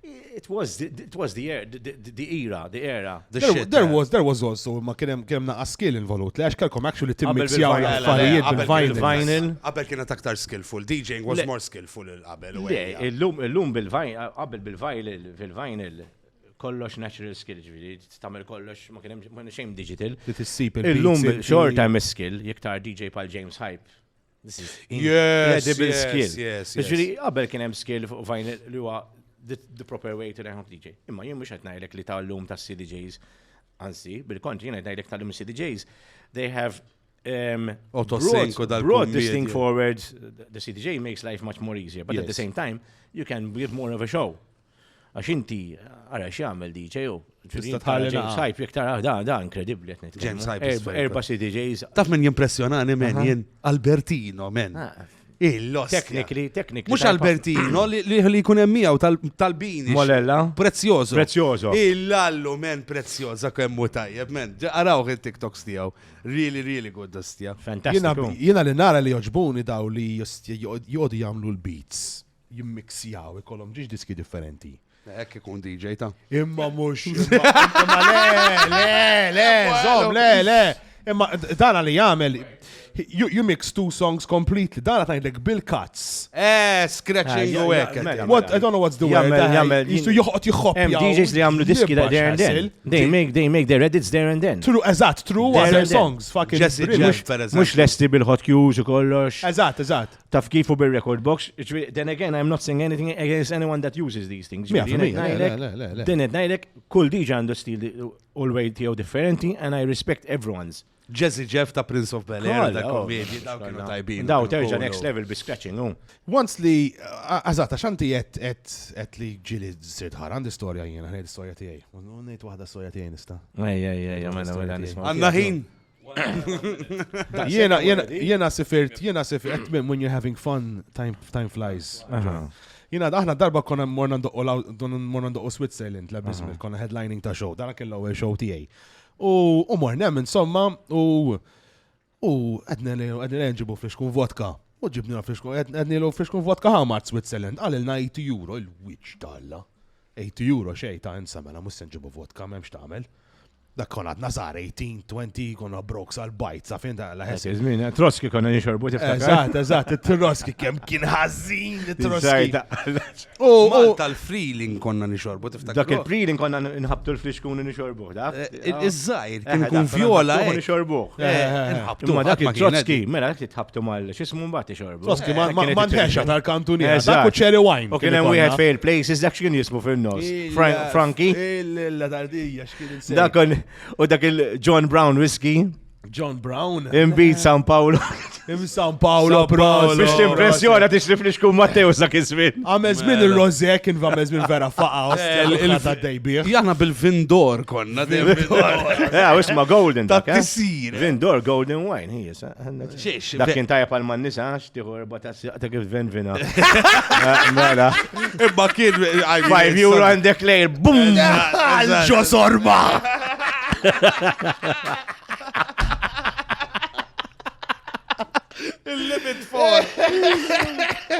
it was the, it was the, er, the, the, the era, the era. The there, shit, there eh. was, there was also, ma kienem kienem naqqa skill involut, li għax kelkom actually timmixjaw l-affarijiet bil-vinyl. Qabel kienet aktar skillful, DJing was more skillful il-qabel. Le, il-lum bil-vinyl, qabel bil-vinyl, fil-vinyl, kollox natural skill, ġviri, tamil kollox, ma kienem xejn digital. Li tissib il-lum xorta hemm skill, jektar DJ pal James Hype, Incredible skill. Ġiri, qabel kien hemm skill fuq fajn li huwa the proper way to learn how to DJ. Imma jien mhux qed ngħidlek li tal-lum ta' CDJs, anzi, bil-kontri jien qed ngħidlek tal-lum CDJs, they have um, broad distinct forwards, the CDJ makes life much more easier, but yes. at the same time, you can give more of a show. Għax inti, għara x'jagħmel DJ u. Tista' tħalli James Hype, jek tara da, da, inkredibbli qed nitkellem. James Hype. Erba' erba' CDJs. Taf min jimpressjonani men jien Albertino men. Ah. Il-lost. Teknikli, teknikli. Mux Albertino li li jkun hemm miegħu tal-bini. Molella. Prezzjożo. Prezzjożo. Il-lallu men prezzjoża kemm hu tajjeb men. Araw il-TikToks tiegħu. Really, really good dustja. Fantastiku. Jiena li nara li joġbuni daw li joqogħdu jagħmlu l-beats. jimmixjaw, ikollhom ġiex diski differenti. Hekk ikun DJ ta'. Imma mhux. Imma le, le, le, żomm, le, le. Imma dana li jagħmel you, you mix two songs completely. Dara tajlek bil-cuts. Eh, scratching ah, u hekk. What, I don't know what's the word. Jistu joħot jħob. Hemm DJs li għamlu diski da there and then. They make, they make their edits there and then. True, eżatt, true, their songs. Fucking Mux lesti bil-hot cues u kollox. Eżatt, eżatt. taf kif u bil-record box, then again, I'm not saying anything against anyone that uses these things. Din id najlek, kull diġa għandu stil u l-way tiegħu differenti, and I respect everyone's. Jazzy Jeff ta' Prince of Bel Air, da' komedi, da' kienu tajbin. Daw terġa next level bi scratching, u. Once li, għazata, xanti jett, jett, jett li ġili sirt ħar, għandi storja jena, għandi storja tijaj. Unnejt wahda storja tijaj nista. Ej, ej, ej, għamena, għamena, għamena. Għanna ħin. Jena, jena, jena sifirt, jena sifirt, minn when you're having fun, time, time flies. Jena, aħna darba konna morna ndoqqu Switzerland, la bismil, konna headlining ta' show, dara kellu għu show tijaj. U morna, insomma, u u għedna li għedna li nġibu friskun vodka. U ġibni la friskun, għedna li friskun vodka ħamart Switzerland, għalilna 8 euro, il-witch talla. 8 euro xej ta' insamela, mela, mus nġibu vodka, memx ta' għamel. Dak kon għadna żgħar 18, 20, konna broke sal-bajt, sa fejn dan l-ħess. Żmien, troski konna nixorbu tiftakar. Eżatt, eżatt, it-troski kemm kien ħażin it-troski. U tal-freeling konna nixorbu tiftakar. Dak il-freeling konna nħabtu l-flixkun u nixorbu, da? Eh, eh, iż-żgħir kien eh, kun vjola. Nixorbu. Nħabtu ma dak il-troski, mela dak tħabtu mal x'ismu mbagħad ixorbu. Troski ma nħexa tal-kantuniera. Dak u cherry wine. U kien hemm wieħed fejn il-places dak x'kien jismu fin-nos. Franki. Il-ladardija Dakon, u dak il-John Brown Whiskey. John Brown. Imbit San Paolo. Im San Paolo, bro. Biex l-impressjoni għat ixrif li xkun Matteo sa' kizmin. Għamez minn il-roze, kien għamez minn vera faqa. Eh, Il-fata dejbir. Jana bil-vindor konna. Għaw, eh, isma golden. Ta' eh? tisir. Vindor golden wine, hi jisa. Dak kien tajab għal man nisa, xtiħu erba ta' s-saqta kif ven vina. Mela. Imma kien. Five euro and declare, bum! Għalġo sorba! Il-limit for.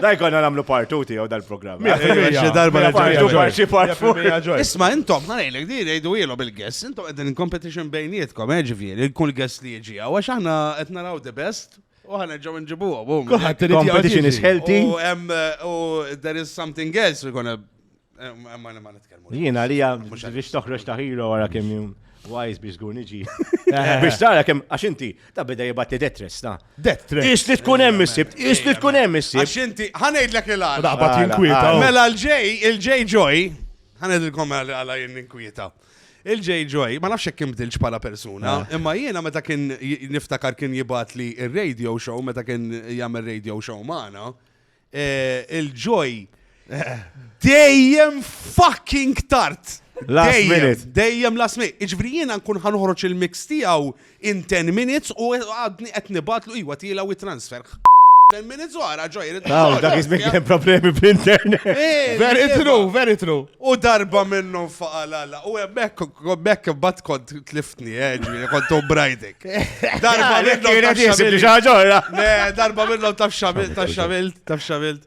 Daj konna namlu partu tiegħu dal-programm. Xi darba partu parti partu. Isma' intom ħanejlek di ngħidu ilu bil-guest, intom qegħdin competition bejnietkom, eh, ġifieri, kull guest li jiġi hawn għax aħna qed naraw the best u ħa nerġgħu nġibuhom. u Kulħadd irid jgħid Competition jiġi. is healthy. U hemm u there is something else we're gonna eh, ma ma nitkellmu. Jiena li hija Mhux għaliex. biex toħroġ ta' hero wara kemm jum wise biex żgur niġi. Biex tara kemm għax inti ta' bida jibgħat li detress ta'. Death threat. Is li tkun hemm is-sibt, is li tkun hemm is-sibt. Għax inti ħanejdlek il-għala. Daqbat jinkwieta. Mela l-ġej, il-ġej ġoj, ħanedilkom għala jien ninkwieta. Il-J. Joy, ma nafx kien bdilx bħala persuna, ah. imma jiena meta kien niftakar kien jibat li il-radio show, meta kien jagħmel radio show magħna, eh, il-Joy dejjem fucking tart. Dejjem, dejjem last minute. Iġvri jiena nkun ħanħroċ il-mix tiegħu In ten minutes u għadni qed nibgħatlu iwa tiela u transfer. Ten minutes u għara ġoj. Aw, dak ismek hemm problemi bl-internet. Eh, very true, very true. U darba minnhom faqalala. U hemmhekk bekk imbagħad kont tliftni, eh, ġifieri kont brajdek. Darba minnhom. Darba minnhom taf xamilt, taf xamilt.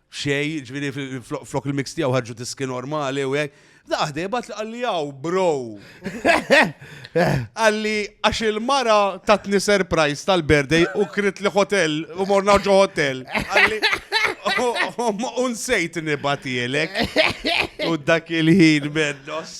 xejn, ġifieri flok il-mix tiegħu ħarġu tiski normali u hekk. Daħde bat li qalli hawn bro. Qalli għax il-mara tatni surprise tal-birthday u krit li hotel u morna ġo hotel. Qalli unsejt nibatielek. U dak il-ħin mennos.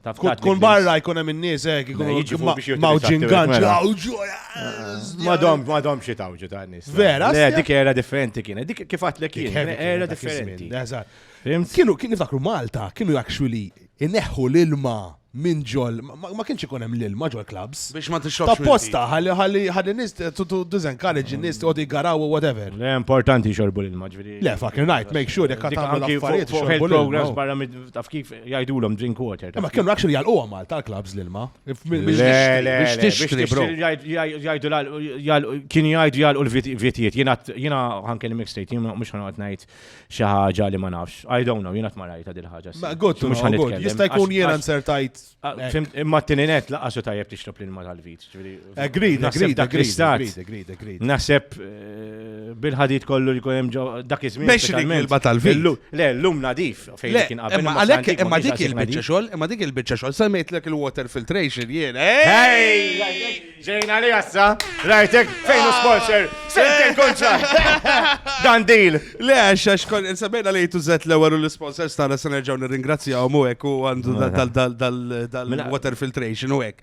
Kut kun barra jkun hemm in-nies hekk ikun jiġu biex jgħidu mawġin ganċ. Madom, madom xi tawġu ta' nies. Vera? Le, dik era differenti kienet. Dik kif għatlek kien, era differenti. Kienu kien niftakru Malta, kienu actually ineħħu l-ilma minn ġol, ma kienx ikun hemm l-ilma ġol clubs. Biex ma tixrobx. Ta' posta, ħalli ħalli ħalli nis tu disencourage in-nies tqogħdu jgaraw u whatever. Le importanti xorbu l-ilma ġifieri. Le fucking right, make sure jekk tagħmlu l-affarijiet xorbu l-ilma. Programs barra taf kif jgħidulhom drink water. Ma kienu actually jgħalquhom għal tal-clubs l-ilma. Biex tixtri, bro. Jgħidu kienu jgħidu jgħalqu l-vitijiet. Jiena ħankel mix state, jiena mhux ħanqgħod ngħid xi ħaġa li ma nafx. I don't know, jiena ma rajta dil ħaġa. Ma good, mhux ħanqgħod. Jista' jkun jiena nsertajt. Imma t-tininet laqasu tajjeb tixrob l-ilma tal-vit. Agreed, agreed, dak l-istat. Naħseb eh, bil-ħadid kollu li kunem dak iż-żmien. Biex il-kelba tal-vin. Le, l-lum nadif fejn kien qabel. Imma għalhekk imma dik il-biċċa xogħol, imma dik il-biċċa xogħol semmejtlek il-water filtration jien. Ej! Ġejna li jassa, rajtek fejn u sponsor, fejn kontra. Dan deal. Le, għax kon insabejna li jtużet l-ewwel u l-sponsors tagħna se nerġgħu nirringrazzjahom u hekk u għandu dal-water filtration u hekk.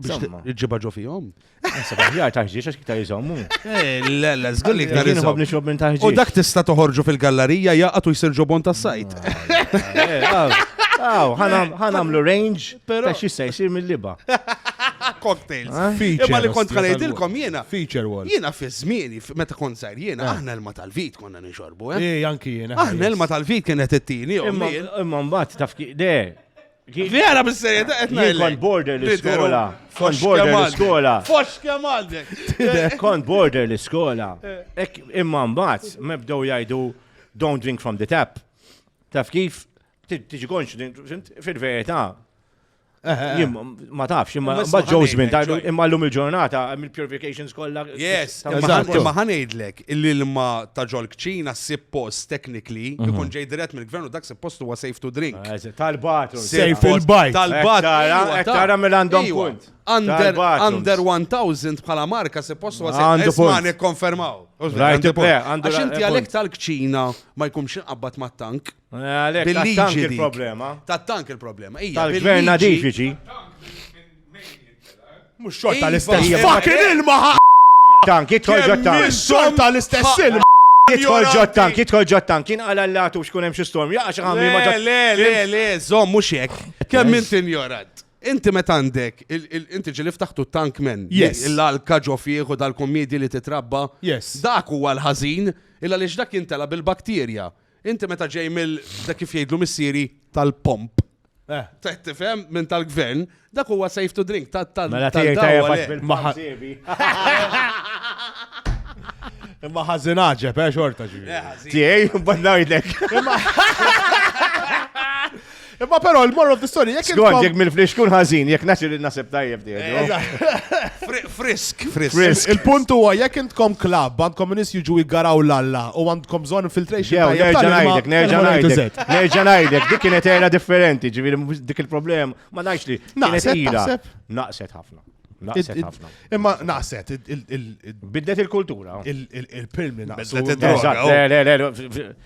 Insomma. Ġibha ġo fihom. Issa baħjar taħġiex għax iktar jżommu. Eh, le, le, żgur li iktar Jien jżommu. nixrob minn taħġiex. U dak tista' toħorġu fil-gallerija jaqgħet u jsir ġobon tas-sajt. Aw, ħanamlu range ta' xi se jsir mill-liba. Cocktails. Imma li kont ħanajdilkom jiena. Feature wall. Jiena fi żmieni meta kont żgħir jiena eh. aħna l-ma tal-vit konna nixorbu. Eh, eh anki jiena. Aħna l-ma tal-vit kienet it-tieni. Imma mbagħad taf de Li għara bis-serjeta qed ngħidlek. Jien kont border l-iskola. Kont border l-iskola. Fox kemm għandek. Kont border l-iskola. Imma mbagħad mebdew jgħidu don't drink from the tap. Taf kif tiġi konċ fil-verità Eh, eh, eh. ma tafx, imma mbagħad ġew żmien imma llum il-ġurnata mill purifications kollha. Yes, imma ħanejdlek illi l-ma ta' ġol kċina ssib post technically mhm. ikun ġej dirett mill-gvern u dak post huwa safe to drink. Ah, tal-batru. Safe il-bajk. Tal-batru. Tara mill għandhom punt. Under 1000 bħala marka se post huwa safe. Għandu punt. Għandu konfermaw. Għandu punt. Għax inti għalek tal-kċina ma jkunx inqabbat ma' tank. Għalek tal-tank il-problema. Tal-tank il-problema. Tal-gvern nadifiċi. Mhux xorta l-istess. Iva, Fucking imma- ilma ħa. Tank, jidħol ġo tank. Mhux xorta l-istess ilma. Jidħol ġo Ignoranti. tank, jidħol ġo tank. Kien għala l-latu xkun hemm xi storm. Jaqa' xi ħamli ma Le, ġo- le, le, le, zom, mux jek. Kemm Yes. inti ignorant. Inti met għandek, il- il- inti ġili ftaħtu tank men. Yes. Il-alka ġo fieħ u dal-kommedi li titrabba. Yes. Dak huwa l-ħażin, illa li dak jintela bil-bakterja. Inti meta ġej mill dak kif jgħidlu missieri tal-pomp. Eh. Teħt tifhem minn tal-gvern, dak huwa safe to drink tal tal Mela tiegħi tajjeb għax bil-maħażiebi. Imma ħażin għaġeb, eh, xorta ġivi. Eh, Tiegħi, mbagħad ngħidlek. Imma però il-moral of the story, jekk Skont, jekk mill-flix kun ħażin, jekk naċi li nasib tajjeb di. Frisk, frisk. Il-punt huwa jekk intkom klab, għandkom nis jiġu jgaraw l-alla u għandkom bżonn infiltration. Jew, nerġa' ngħidlek, nerġa' ngħidlek. Nerġa' ngħidlek, dik kienet era differenti, ġifieri dik il-problem, ma ngħidx li. Naqset ħafna. Naqset ħafna. Imma naqset. Bidlet il-kultura. Il-pilmi naqset.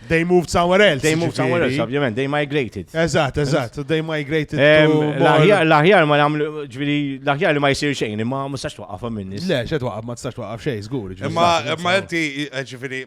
They moved somewhere else. They moved somewhere else, ovvjament. They migrated. Eżatt, eżatt. They migrated. L-aħjar ma namlu, ġviri, l-aħjar li ma jisir xejn, imma ma tistax twaqqaf minn nis. Le, xe twaqqaf, ma tistax twaqqaf xejn, zgur. Imma inti, ġviri,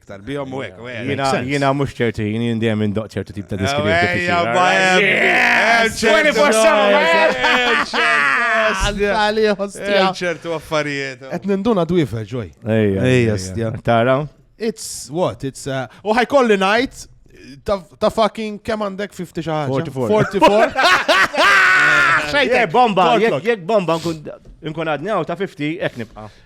Iktar bihom u hekk. Jiena mhux ċerti, jien dejjem indoq ċertu tip ta' diskriminazzjoni. ċertu affarijiet. Qed ninduna dwifa ġoj. Ejja, stja. Tara? It's what? It's uh, u ħajkolli ngħid ta' fucking kemm għandek 50 xi ħaġa? 44. Jek bomba, jek bomba nkun għadni ta' 50 hekk nibqa'.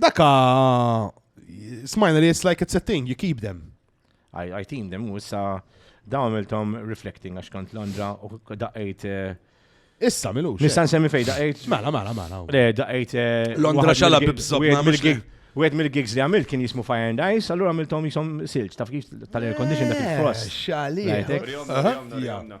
Daka smajna li it's like it's a thing, you keep them. I, I team them, u issa dawn għamiltom reflecting għax kont Londra u daqqajt eh, Issa milux. Nista' nsemmi fejn daqqajt. Mela, mela, mela. Le, daqqajt. eh, Londra waħed xala mill-gig- bibżobna, wieħed mhux mill-gig- Wieħed mill-gigs li għamilt kien jismu Fire and Ice, allura għamiltom jisom silġ, taf kif tal-air condition dak il-frost. Xali. Lajtek. Rjomna, Aha. rjomna, rjomna.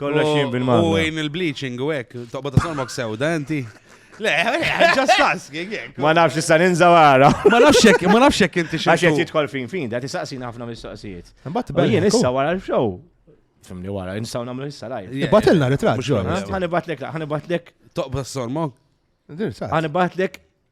Kollox jien bil-mara. U għin il-bleaching u hekk, toqgħod isolmok sewda inti. Le, just asking. Ma nafx issa ninżaw għara. Ma nafx jekk, ma nafx jekk inti xi. Għax jidħol fin fin, da tisaqsina ħafna mistoqsijiet. Imbagħad bel. Jien issa wara l-show. Fimni wara, nistgħu nagħmlu issa lajf. Ibatilna ritratt. Ħanibatlek, ħanibatlek. Toqgħod isolmok. Ħanibatlek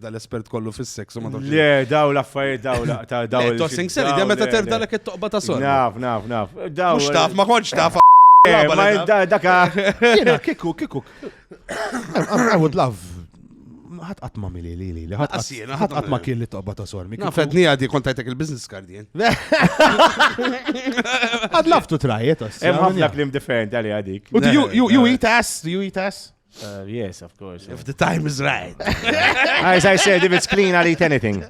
dal-espert kollu fis-seks u ma tafx. Le, daw l-affarijiet daw ta' daw. Le, tossing seri, dejjem meta terf dalek it-toqba ta' sor. Naf, naf, naf. Daw. Mhux taf, ma kontx taf. Eh, ma daka. Jiena kiku, kiku. I would love ħat qatt ma mili li li li ħat qatt ma kien li toqba ta' sor. Ma fedni għadi kontajtek il-business card jien. Għad laftu trajet. Hemm ħafna klim differenti għalli għadik. U you eat ass, you eat ass. Uh, yes, of course. If the time is right. as I said, if it's clean, I'll eat anything.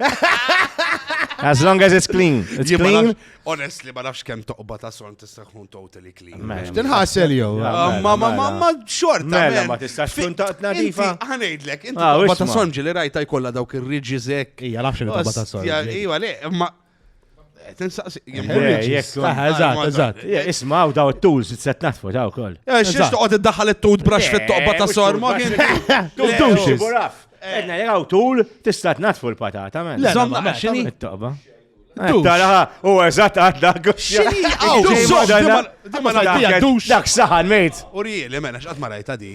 As long as it's clean. It's yeah, clean. Honestly, ma nafx kemm toqba ta' son tista' tkun totally clean. Tinħasel jew. Ah, ma ma ma ma xorta. Mela ma tistax tkun ta' nadifa. Ħanejdlek, inti ah, toqba ta' son ġili rajta jkollha dawk ir-riġi żek. Ija nafx li toqba ta' son. Ija le, ma Tinsaqsi. Eżatt, eżatt. Isma' u daw it-tools se tnaħtfu daw ukoll. Xiex toqgħod iddaħħal it-toothbrush fit-toqba ta' sorma. Toothbrush. Edna li għaw tul tista' tnaħtfu l-patata. Zomma, xini? It-toqba. Taraħa, u eżat għadda Xini? Għaw, zomma, dak saħan, mejt. U rieli, mena, xqat marajta di.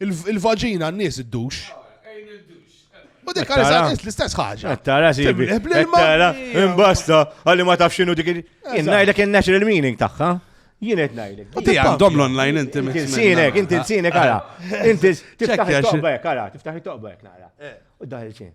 Il-vaġina n-nies id-dux. U dik għal eżatt l-istess ħaġa. Tara si. Tara, imbasta, għalli ma tafx xinu dik. Ngħidlek in-natural meaning tagħha. Jien qed ngħidlek. Ti għandhom l-online inti minn. Sinek, inti sinek ara. Inti tiftaħ it-toqba hekk ara, tiftaħ it-toqba hekk nara. Eh. U daħil xejn.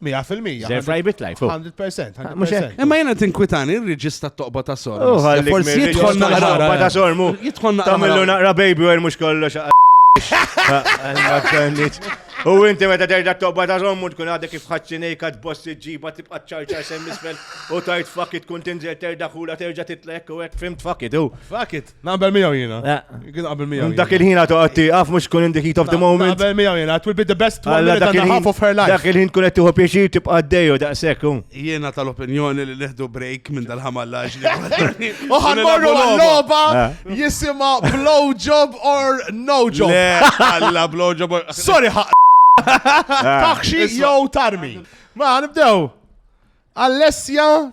Mija fil-mija. Zerf rajbit lajf. 100%. Imma jena tinkwitani il-reġista t-toqba ta' sor. Forsi jitħol naqra. Toqba ta' sor mu. Jitħol naqra. Tamillu naqra baby għer mux kollu xaqqa. U inti meta terġa' toqba ta' żommu tkun għadek kif ħaċċinejka tboss iġġiba tibqa' ċarċar sem isfel u tajt fuck it tkun tinżel terġa' ħula terġa' titlek u hekk fimt fuck it u. Fuck it. Naqbel miegħu jiena. Kien naqbel miegħu. Dak il-ħin għatu għatti għaf mux kun in the heat of the moment. Naqbel miegħu jiena, it will be the best one minute and a half of her life. Dak il-ħin kun qed tieħu pjaċir tibqa' għaddejju daqshekk. Jiena tal-opinjoni li neħdu break minn dal-ħamallaġ li. Oħan morru għal-logħba jisimha blow job or no job. Alla blow job or. Sorry ħaq. Taħxi jew tarmi. Ma nibdew. Alessia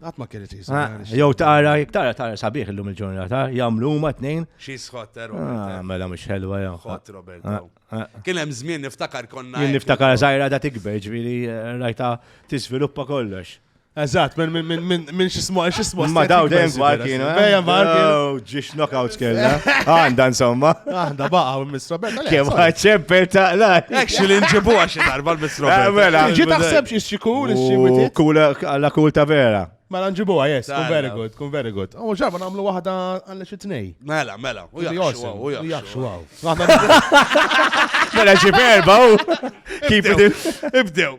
Għat ma kienet jisa. Ah, jew tara, jek tara, tara sabiħ illum il-ġurnata, jamlu ma t-nejn. Xie sħot, eh, Robert. Ah, eh. Mela mux ħelwa jam. Sħot, Robert. Ah, Kien hemm żmien niftakar konna. Kien niftakar zaħira da tikber, ġviri eh, rajta tisviluppa kollox. Eżat, minn minn minn minn xismu xismu. Ma daw dejjem għal kienu. Dejjem għal kienu. Ġiex knockouts kella. Għanda insomma. Għanda baqa u Miss Roberta. Kem ħadċemper taqla. Actually nġibu għaxi darba l-Miss eh, Roberta. Mela. Ġi taħseb xie xikul, xie witit. Kula għalla kul ta' vera. Mela nġibu għajes, kun very good, kun very good. U ġarba namlu wahda għalla xie tnej. Mela, mela. U jaxu għaw, u jaxu għaw. Mela xie perba u. Keep it. Ibdew.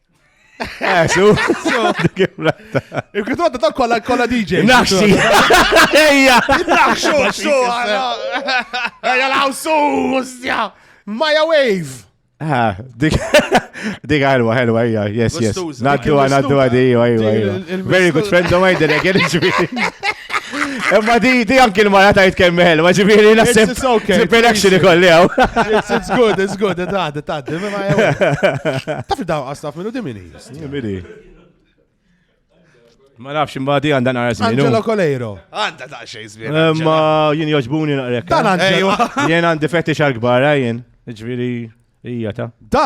Eh, su, su, Il-kritu għadda tal kolla kolla DJ. Naxxi. Ejja. Naxxu, su, Ejja, law, su, ustja. Maja Wave. Ah, dik dik ħelwa ħelwa hija, yes yes. Naddu naddu għadi, Very good friend of mine, dere kien Imma di, di anki l-mara tajt kemm meħel, ma ġibiri nasib. It's okay. Ġibiri action ikolli għaw. It's good, it's good, it's good, it's good, it's good. Taf daw għastaf minnu dimini. Dimini. Ma nafx imbadi għanda nara zmin. Angelo Coleiro. Għanda ta' xej zmin. Eh, ma jien joġbuni naqrek. Dan eh? Angelo. Jien għandi fetish għal-kbar, eh, jien. Ġviri, ija ta. Da,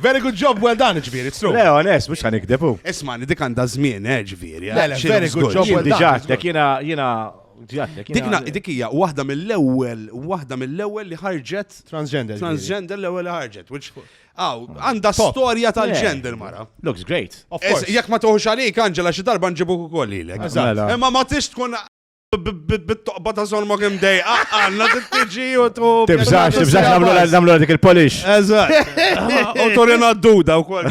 Very good job, well done, ġviri, it's true. Le, onest, mux għanikdeb u. Ismani, dik għanda zmin, eh, ġviri. Eh, le, very good job, well done. Diġatlek, jina, jina, Dikna, dik hija waħda mill-ewwel, waħda mill-ewwel li ħarġet transgender. Transgender l-ewwel li ħarġet, which Aw, għanda storja tal-ġender mara. Looks great. Jekk ma toħux għalik, Angela, xi darba nġibu ukoll lilek. Mela. Imma ma tix tkun bit-toqba ta' Son Mogem Day. Għanna t-tġi u tu. Tibżax, tibżax namlu dik il-polish. Eżat. U torina d-duda u kol.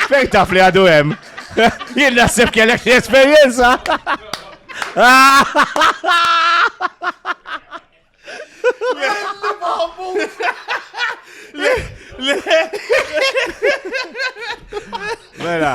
Fejn taf li għadu hemm. Jien naħseb kellek l-esperjenza. Mela.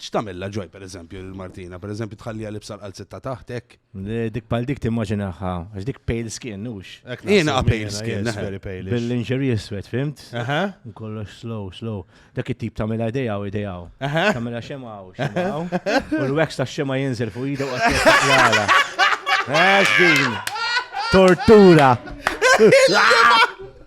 X'tagħmilha ġoj pereżempju lil Martina? Pereżempju tħalliha libsa l-qalziet ta' taħt hekk? Le, dik bħal dik timmaġinaha, għax dik pale skin, hux? Hekk naħseb Jiena jiena, pale skin, yes, eħe. very pale-ish. Bil-lingerie iswed, fimt? Eħe. U kollox slow, slow. Dak it-tip tagħmilha idejha u idejha. Eħe. Tagħmilha xema u xema hawn. U l-wax tax-xema jinżel fuq idha u qatt jaqlala. Għax din. Tortura.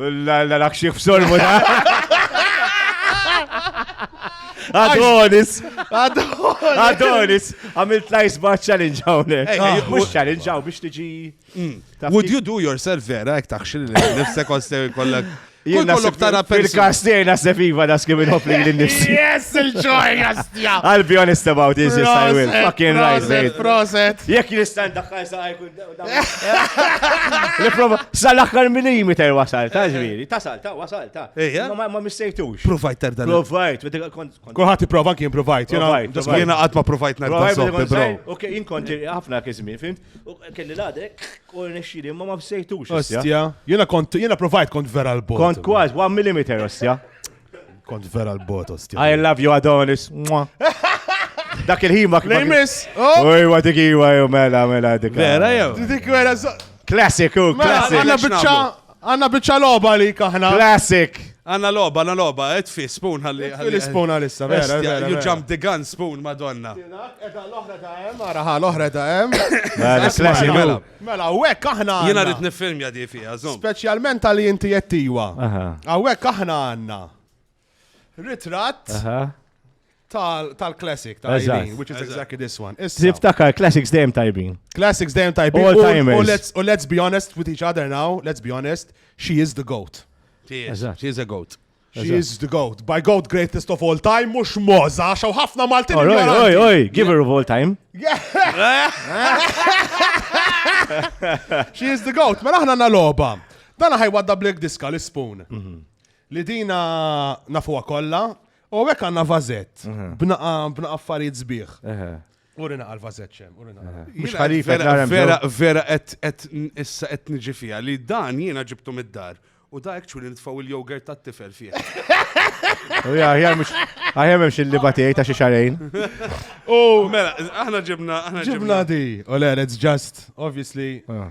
L-għalak xieħ f'sormu da. Adonis! Adonis! Adonis! Għamilt lajs ba' challenge għawne. Mux challenge għaw biex tiġi. Mm. Would you do yourself vera, ek taħxil nifsek għostew kollek. Jien kollok tara fil-kastej nasib iva da skim il-hop li l-nis. Yes, il-ġoj, jastja! I'll be honest about this, yes, I will. Fucking right, mate. Proset. Jek jistan daħħal sa' L-prova, sa l-axħar minimi ter wasal, ta' ġviri, ta' sal, ta' wasal, ta' Ejja. Ma- ma ma missejtux. Provajt tarda. Provajt, u dik kont kont- Kulħadd ipprova kien provajt, jena Provajt, provajt. jiena qatt ma provajt narda Provajt soppi, bil-kont bro. sejr, Ok, jien kont ħafna kizmin, fimt? U kelli l-għadek, u nexxili, ma ma missejtux. Ostja, jiena kont jiena provajt kont vera l-bot. Kont kważi, 1 mm, ostja. Kont vera l-bot, ostja. I love you, Adonis. Dak il-ħin ma kien. Nejmis! Uj, wa dik iwa, ju mela, mela dik. Vera jew? Dik vera Classic, u classic. Għanna bicċa, għanna bicċa loba li kaħna. Classic. Għanna loba, għanna loba, et fi spoon għalli. Fi spoon għalissa, vera, vera. You jump the gun spoon, madonna. Edha l-ohra ta' em, għaraħa l-ohra ta' em. Mela, classic, mela. Mela hawnhekk aħna għandna. Jiena rrid niffilmja di fiha, żomm. Speċjalment għal inti qed iwa. Hawnhekk aħna għandna ritratt tal-classic ta' Eileen, which is exactly this one. Tiftakar, classics dejjem tajbin. Classics dejjem tajbin. All timers. U let's be honest with each other now, let's be honest, she is the goat. She is a goat. She is the goat. By goat greatest of all time, mux moza, xaw ħafna Maltin. Oj, oj, oj, give her of all time. She is the goat. Mela ħna na loba. Dana ħaj wadda Black Diska li spoon. Mhm. Li dina nafuwa kolla. U għek għanna vazet. Mhm. Bnaqa affarijiet zbieħ. Uri naqal vazeċem, uri naqal. Eh, mux ħalif, vera, vera, et issa et nġi fija li dan jiena ġibtu mid-dar. U da ekċu li nitfaw il-jogurt ta' tifel fija. U ja, ja, mux, għajem mx il-libatijaj ta' xiexarajn. U mela, aħna ġibna, aħna ġibna. Ġibna di, u le, it's just, obviously, ah.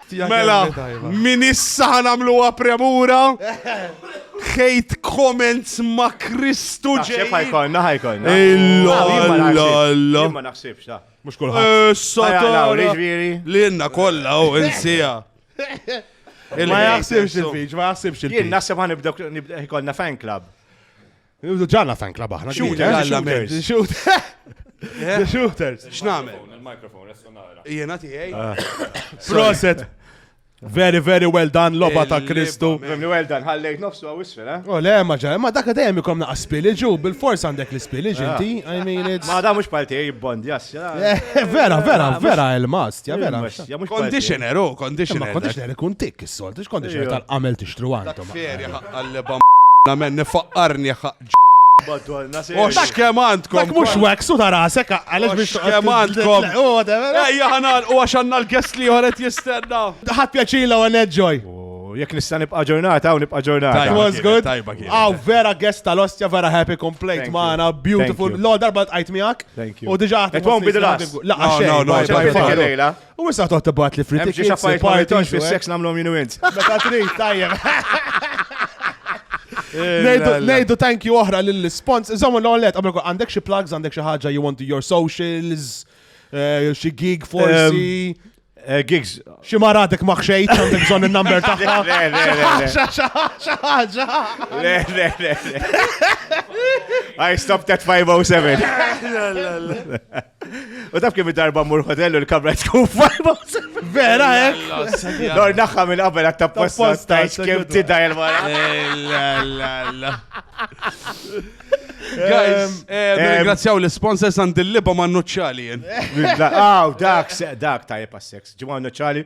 Mela, min issa ħanamluha premura. Hate comments ma Kristu ġej. Ħajkonna, ħajkonna. Illa, illa, illa. Ma naħsibx, ta. Mux kullħat. Eh, Satana. Li jenna kolla, u insija. Ma jaħsibx il-fiġ, ma jaħsibx il-fiġ. Jien naħseb għan nibda ħajkonna fan club. Ġalla fan club aħna. Shooters. The shooters. X'namel? Il-mikrofon, resonara. Jena tiegħi. Ah. Proset. Very, very well done, loba ta' Kristu. Very well done, ħallejt nofsu għaw isfel, eh? Oh, le, ma ġa, ma dakka dejjem ikom naqqa spiliġu, bil-fors għandek l-spiliġ ah. inti, I mean it's... Ma da mux palti jibbond, jas, eh, Vera, vera, vera, il-mast, ja vera. Conditioner, oh, conditioner. Conditioner ikun tik, Sol, tix kondi ġer tal-qamel tixtru għandhom. Ferja ħaqqalleba namen nifaqqarni ħaqġ. Madonna, se. Ox kemm għandkom. Dak mhux wax u tarasek għaliex biex kemm għandkom. Ejja ħanal u għax għandna l-guest li ħoret jistenna. Ħadd pjaċila u enjoy. Jekk nista' nibqa' ġurnata u nibqa' ġurnata. That was good. Aw vera guest tal-ostja vera happy complaint magħna beautiful. Law darba tqajt miegħek. Thank you. U diġà. It won't be the last. La, no, no, no, U issa toħt tibgħat li frit. Xi affarijiet ma jtonx fis-seks eh? nagħmlhom jinu int. Meta trid tajjeb. Nejdu thank you oħra lill-spons. Iżommu l-għolet, għandek xi plugs, għandek xi ħaġa you want to your socials, eh, xi gig forsi. Eh, gigs. Xi maratek ma xejt, għandek bżonn il-number tagħha. Le, le, le. I stopped at 507. U taf kemm darba mmur hotel u l-kamra tkun fajba. Vera, eh? Dor naħħa minn qabel għatta posta stajx kemm tida il-mara. Guys, ringrazzjaw l-sponsors għand il-liba ma' nuċċali. Aw, dak, dak tajjeb għas-sex. Ġimgħa nuċċali.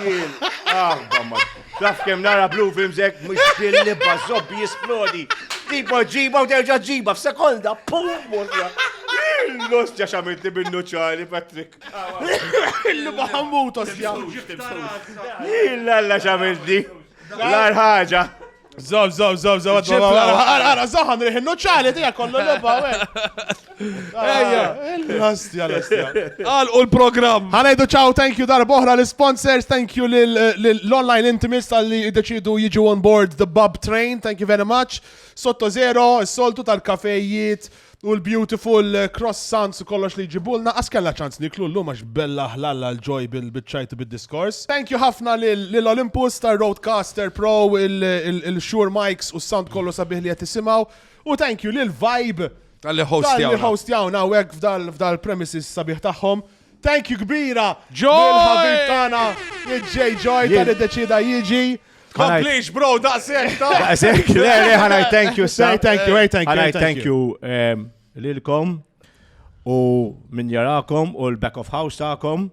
Jien, għabba ma. Taf kem nara blue films ek, mux li bazzobbi jisplodi. Tipo ġiba u terġa ġiba f'sekonda, pum, morra. Los ġa xamilti minnu ċari, Patrick. Illu baħamut, osja. Illa lla xamilti. L-arħaġa. Zaw, zaw, zaw, zaw, għara, zaħan riħ il-nuċċali tija kollu l-lobba, Ejja, l-astja, l-astja. Għal u l-program. Għanajdu ċaw, thank you dar boħra l-sponsors, thank you l-online intimis tal-li deċidu jiġu on board the bub train, thank you very much. Sotto zero, soltu tal-kafejiet, U l-beautiful croissants u kollox li jġibulna, qas kellna ċans niklu llum għax bella ħlalla l-ġoj bil-biċċajt u bid-diskors. Thank you ħafna lil Olympus tar-Rodecaster Pro, il-Shure mics u s-sound kollu sabiħ li qed tisimgħu. U thank you lil Vibe. Talli hostjawna. Talli hostjawna hawnhekk f'dal-premises sabiħ tagħhom. Thank you kbira lill-ħabib tagħna J. Joy tal iddeċida jiġi. Komplix, bro, daqsek ta' daqsek. Le, le, ħana thank you, sir. Thank you, thank you. Ħana thank you ehm, lilkom u min jarakom u l-back of house ta'kom.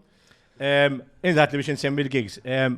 Ehm, Indat li biex nsemmi l-gigs. Ehm,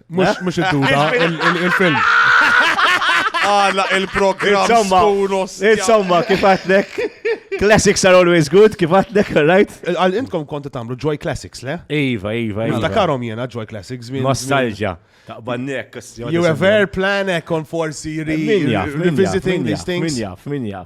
Mux il-duda, il-film. Għala il-program sponos. Insomma, kif għatlek? Classics are always good, kif għatlek, right? Għal intkom konta tamlu Joy Classics, le? Iva, iva, iva. Dakarom jena Joy Classics. Nostalgia. Taqbannek. You have air plan ekon forsi revisiting these things. Minja, minja.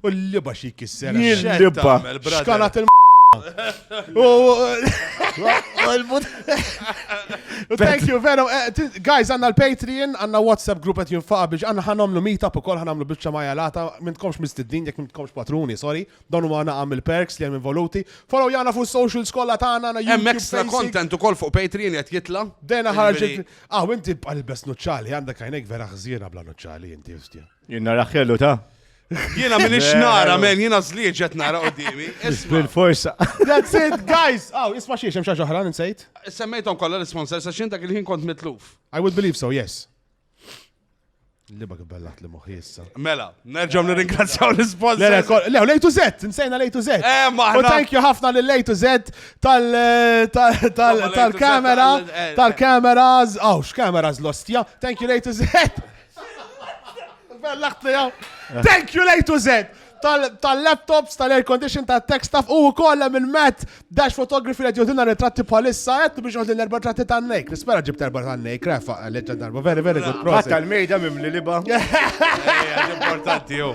U l-liba xi jkisser. L-liba. Xkalat il Thank you, veru. Eh, guys, għanna l-Patreon, għanna WhatsApp group għet jinfaqa biex għanna ħanomlu meetup u kol ħanamlu biex ċamaja lata, mintkomx mistiddin, jek mintkomx patruni, sorry. Donu ma għanna għamil perks li għem involuti. Follow jgħana fuq social skolla ta' għanna. Hemm extra content u kol fuq Patreon għet jitla. Dena ħarġet. Ah, inti għal-bes nuċċali, għandek għajnek vera xżira bla nuċċali, inti jistja. Jenna raħħelu ta' Jiena minn ix-xnara, men, jiena zliet ġet nara qoddimi. Bil-forsa. That's it, guys! Aw, isma xiex, hemm xaġa oħra, nsejt. Semmejtom kollha l-sponsors għax jien dak il-ħin kont mitluf. I would believe so, yes. Liba kibellat li moħi issa. Mela, nerġaw nirringrazzjaw l-sponsors. Le, lej to Z, nsejna lej to Z. Eh, maħna. U thank you ħafna li lej to Z tal-kamera, tal-kameras, għaw, x'kameras l-ostja. Thank you lej to Z. Thank you, lejtu zed! tal-laptops, tal-air condition, tal-tech staff u kolla minn Matt Dash Photography li jodina ritratti bħalissa għed biex għodin erba tratti ta' nejk. Nispera ġib erba ta' nejk, refa, leġġa darba, very, very good process. Tal-mejda mimli liba. Importanti, jo.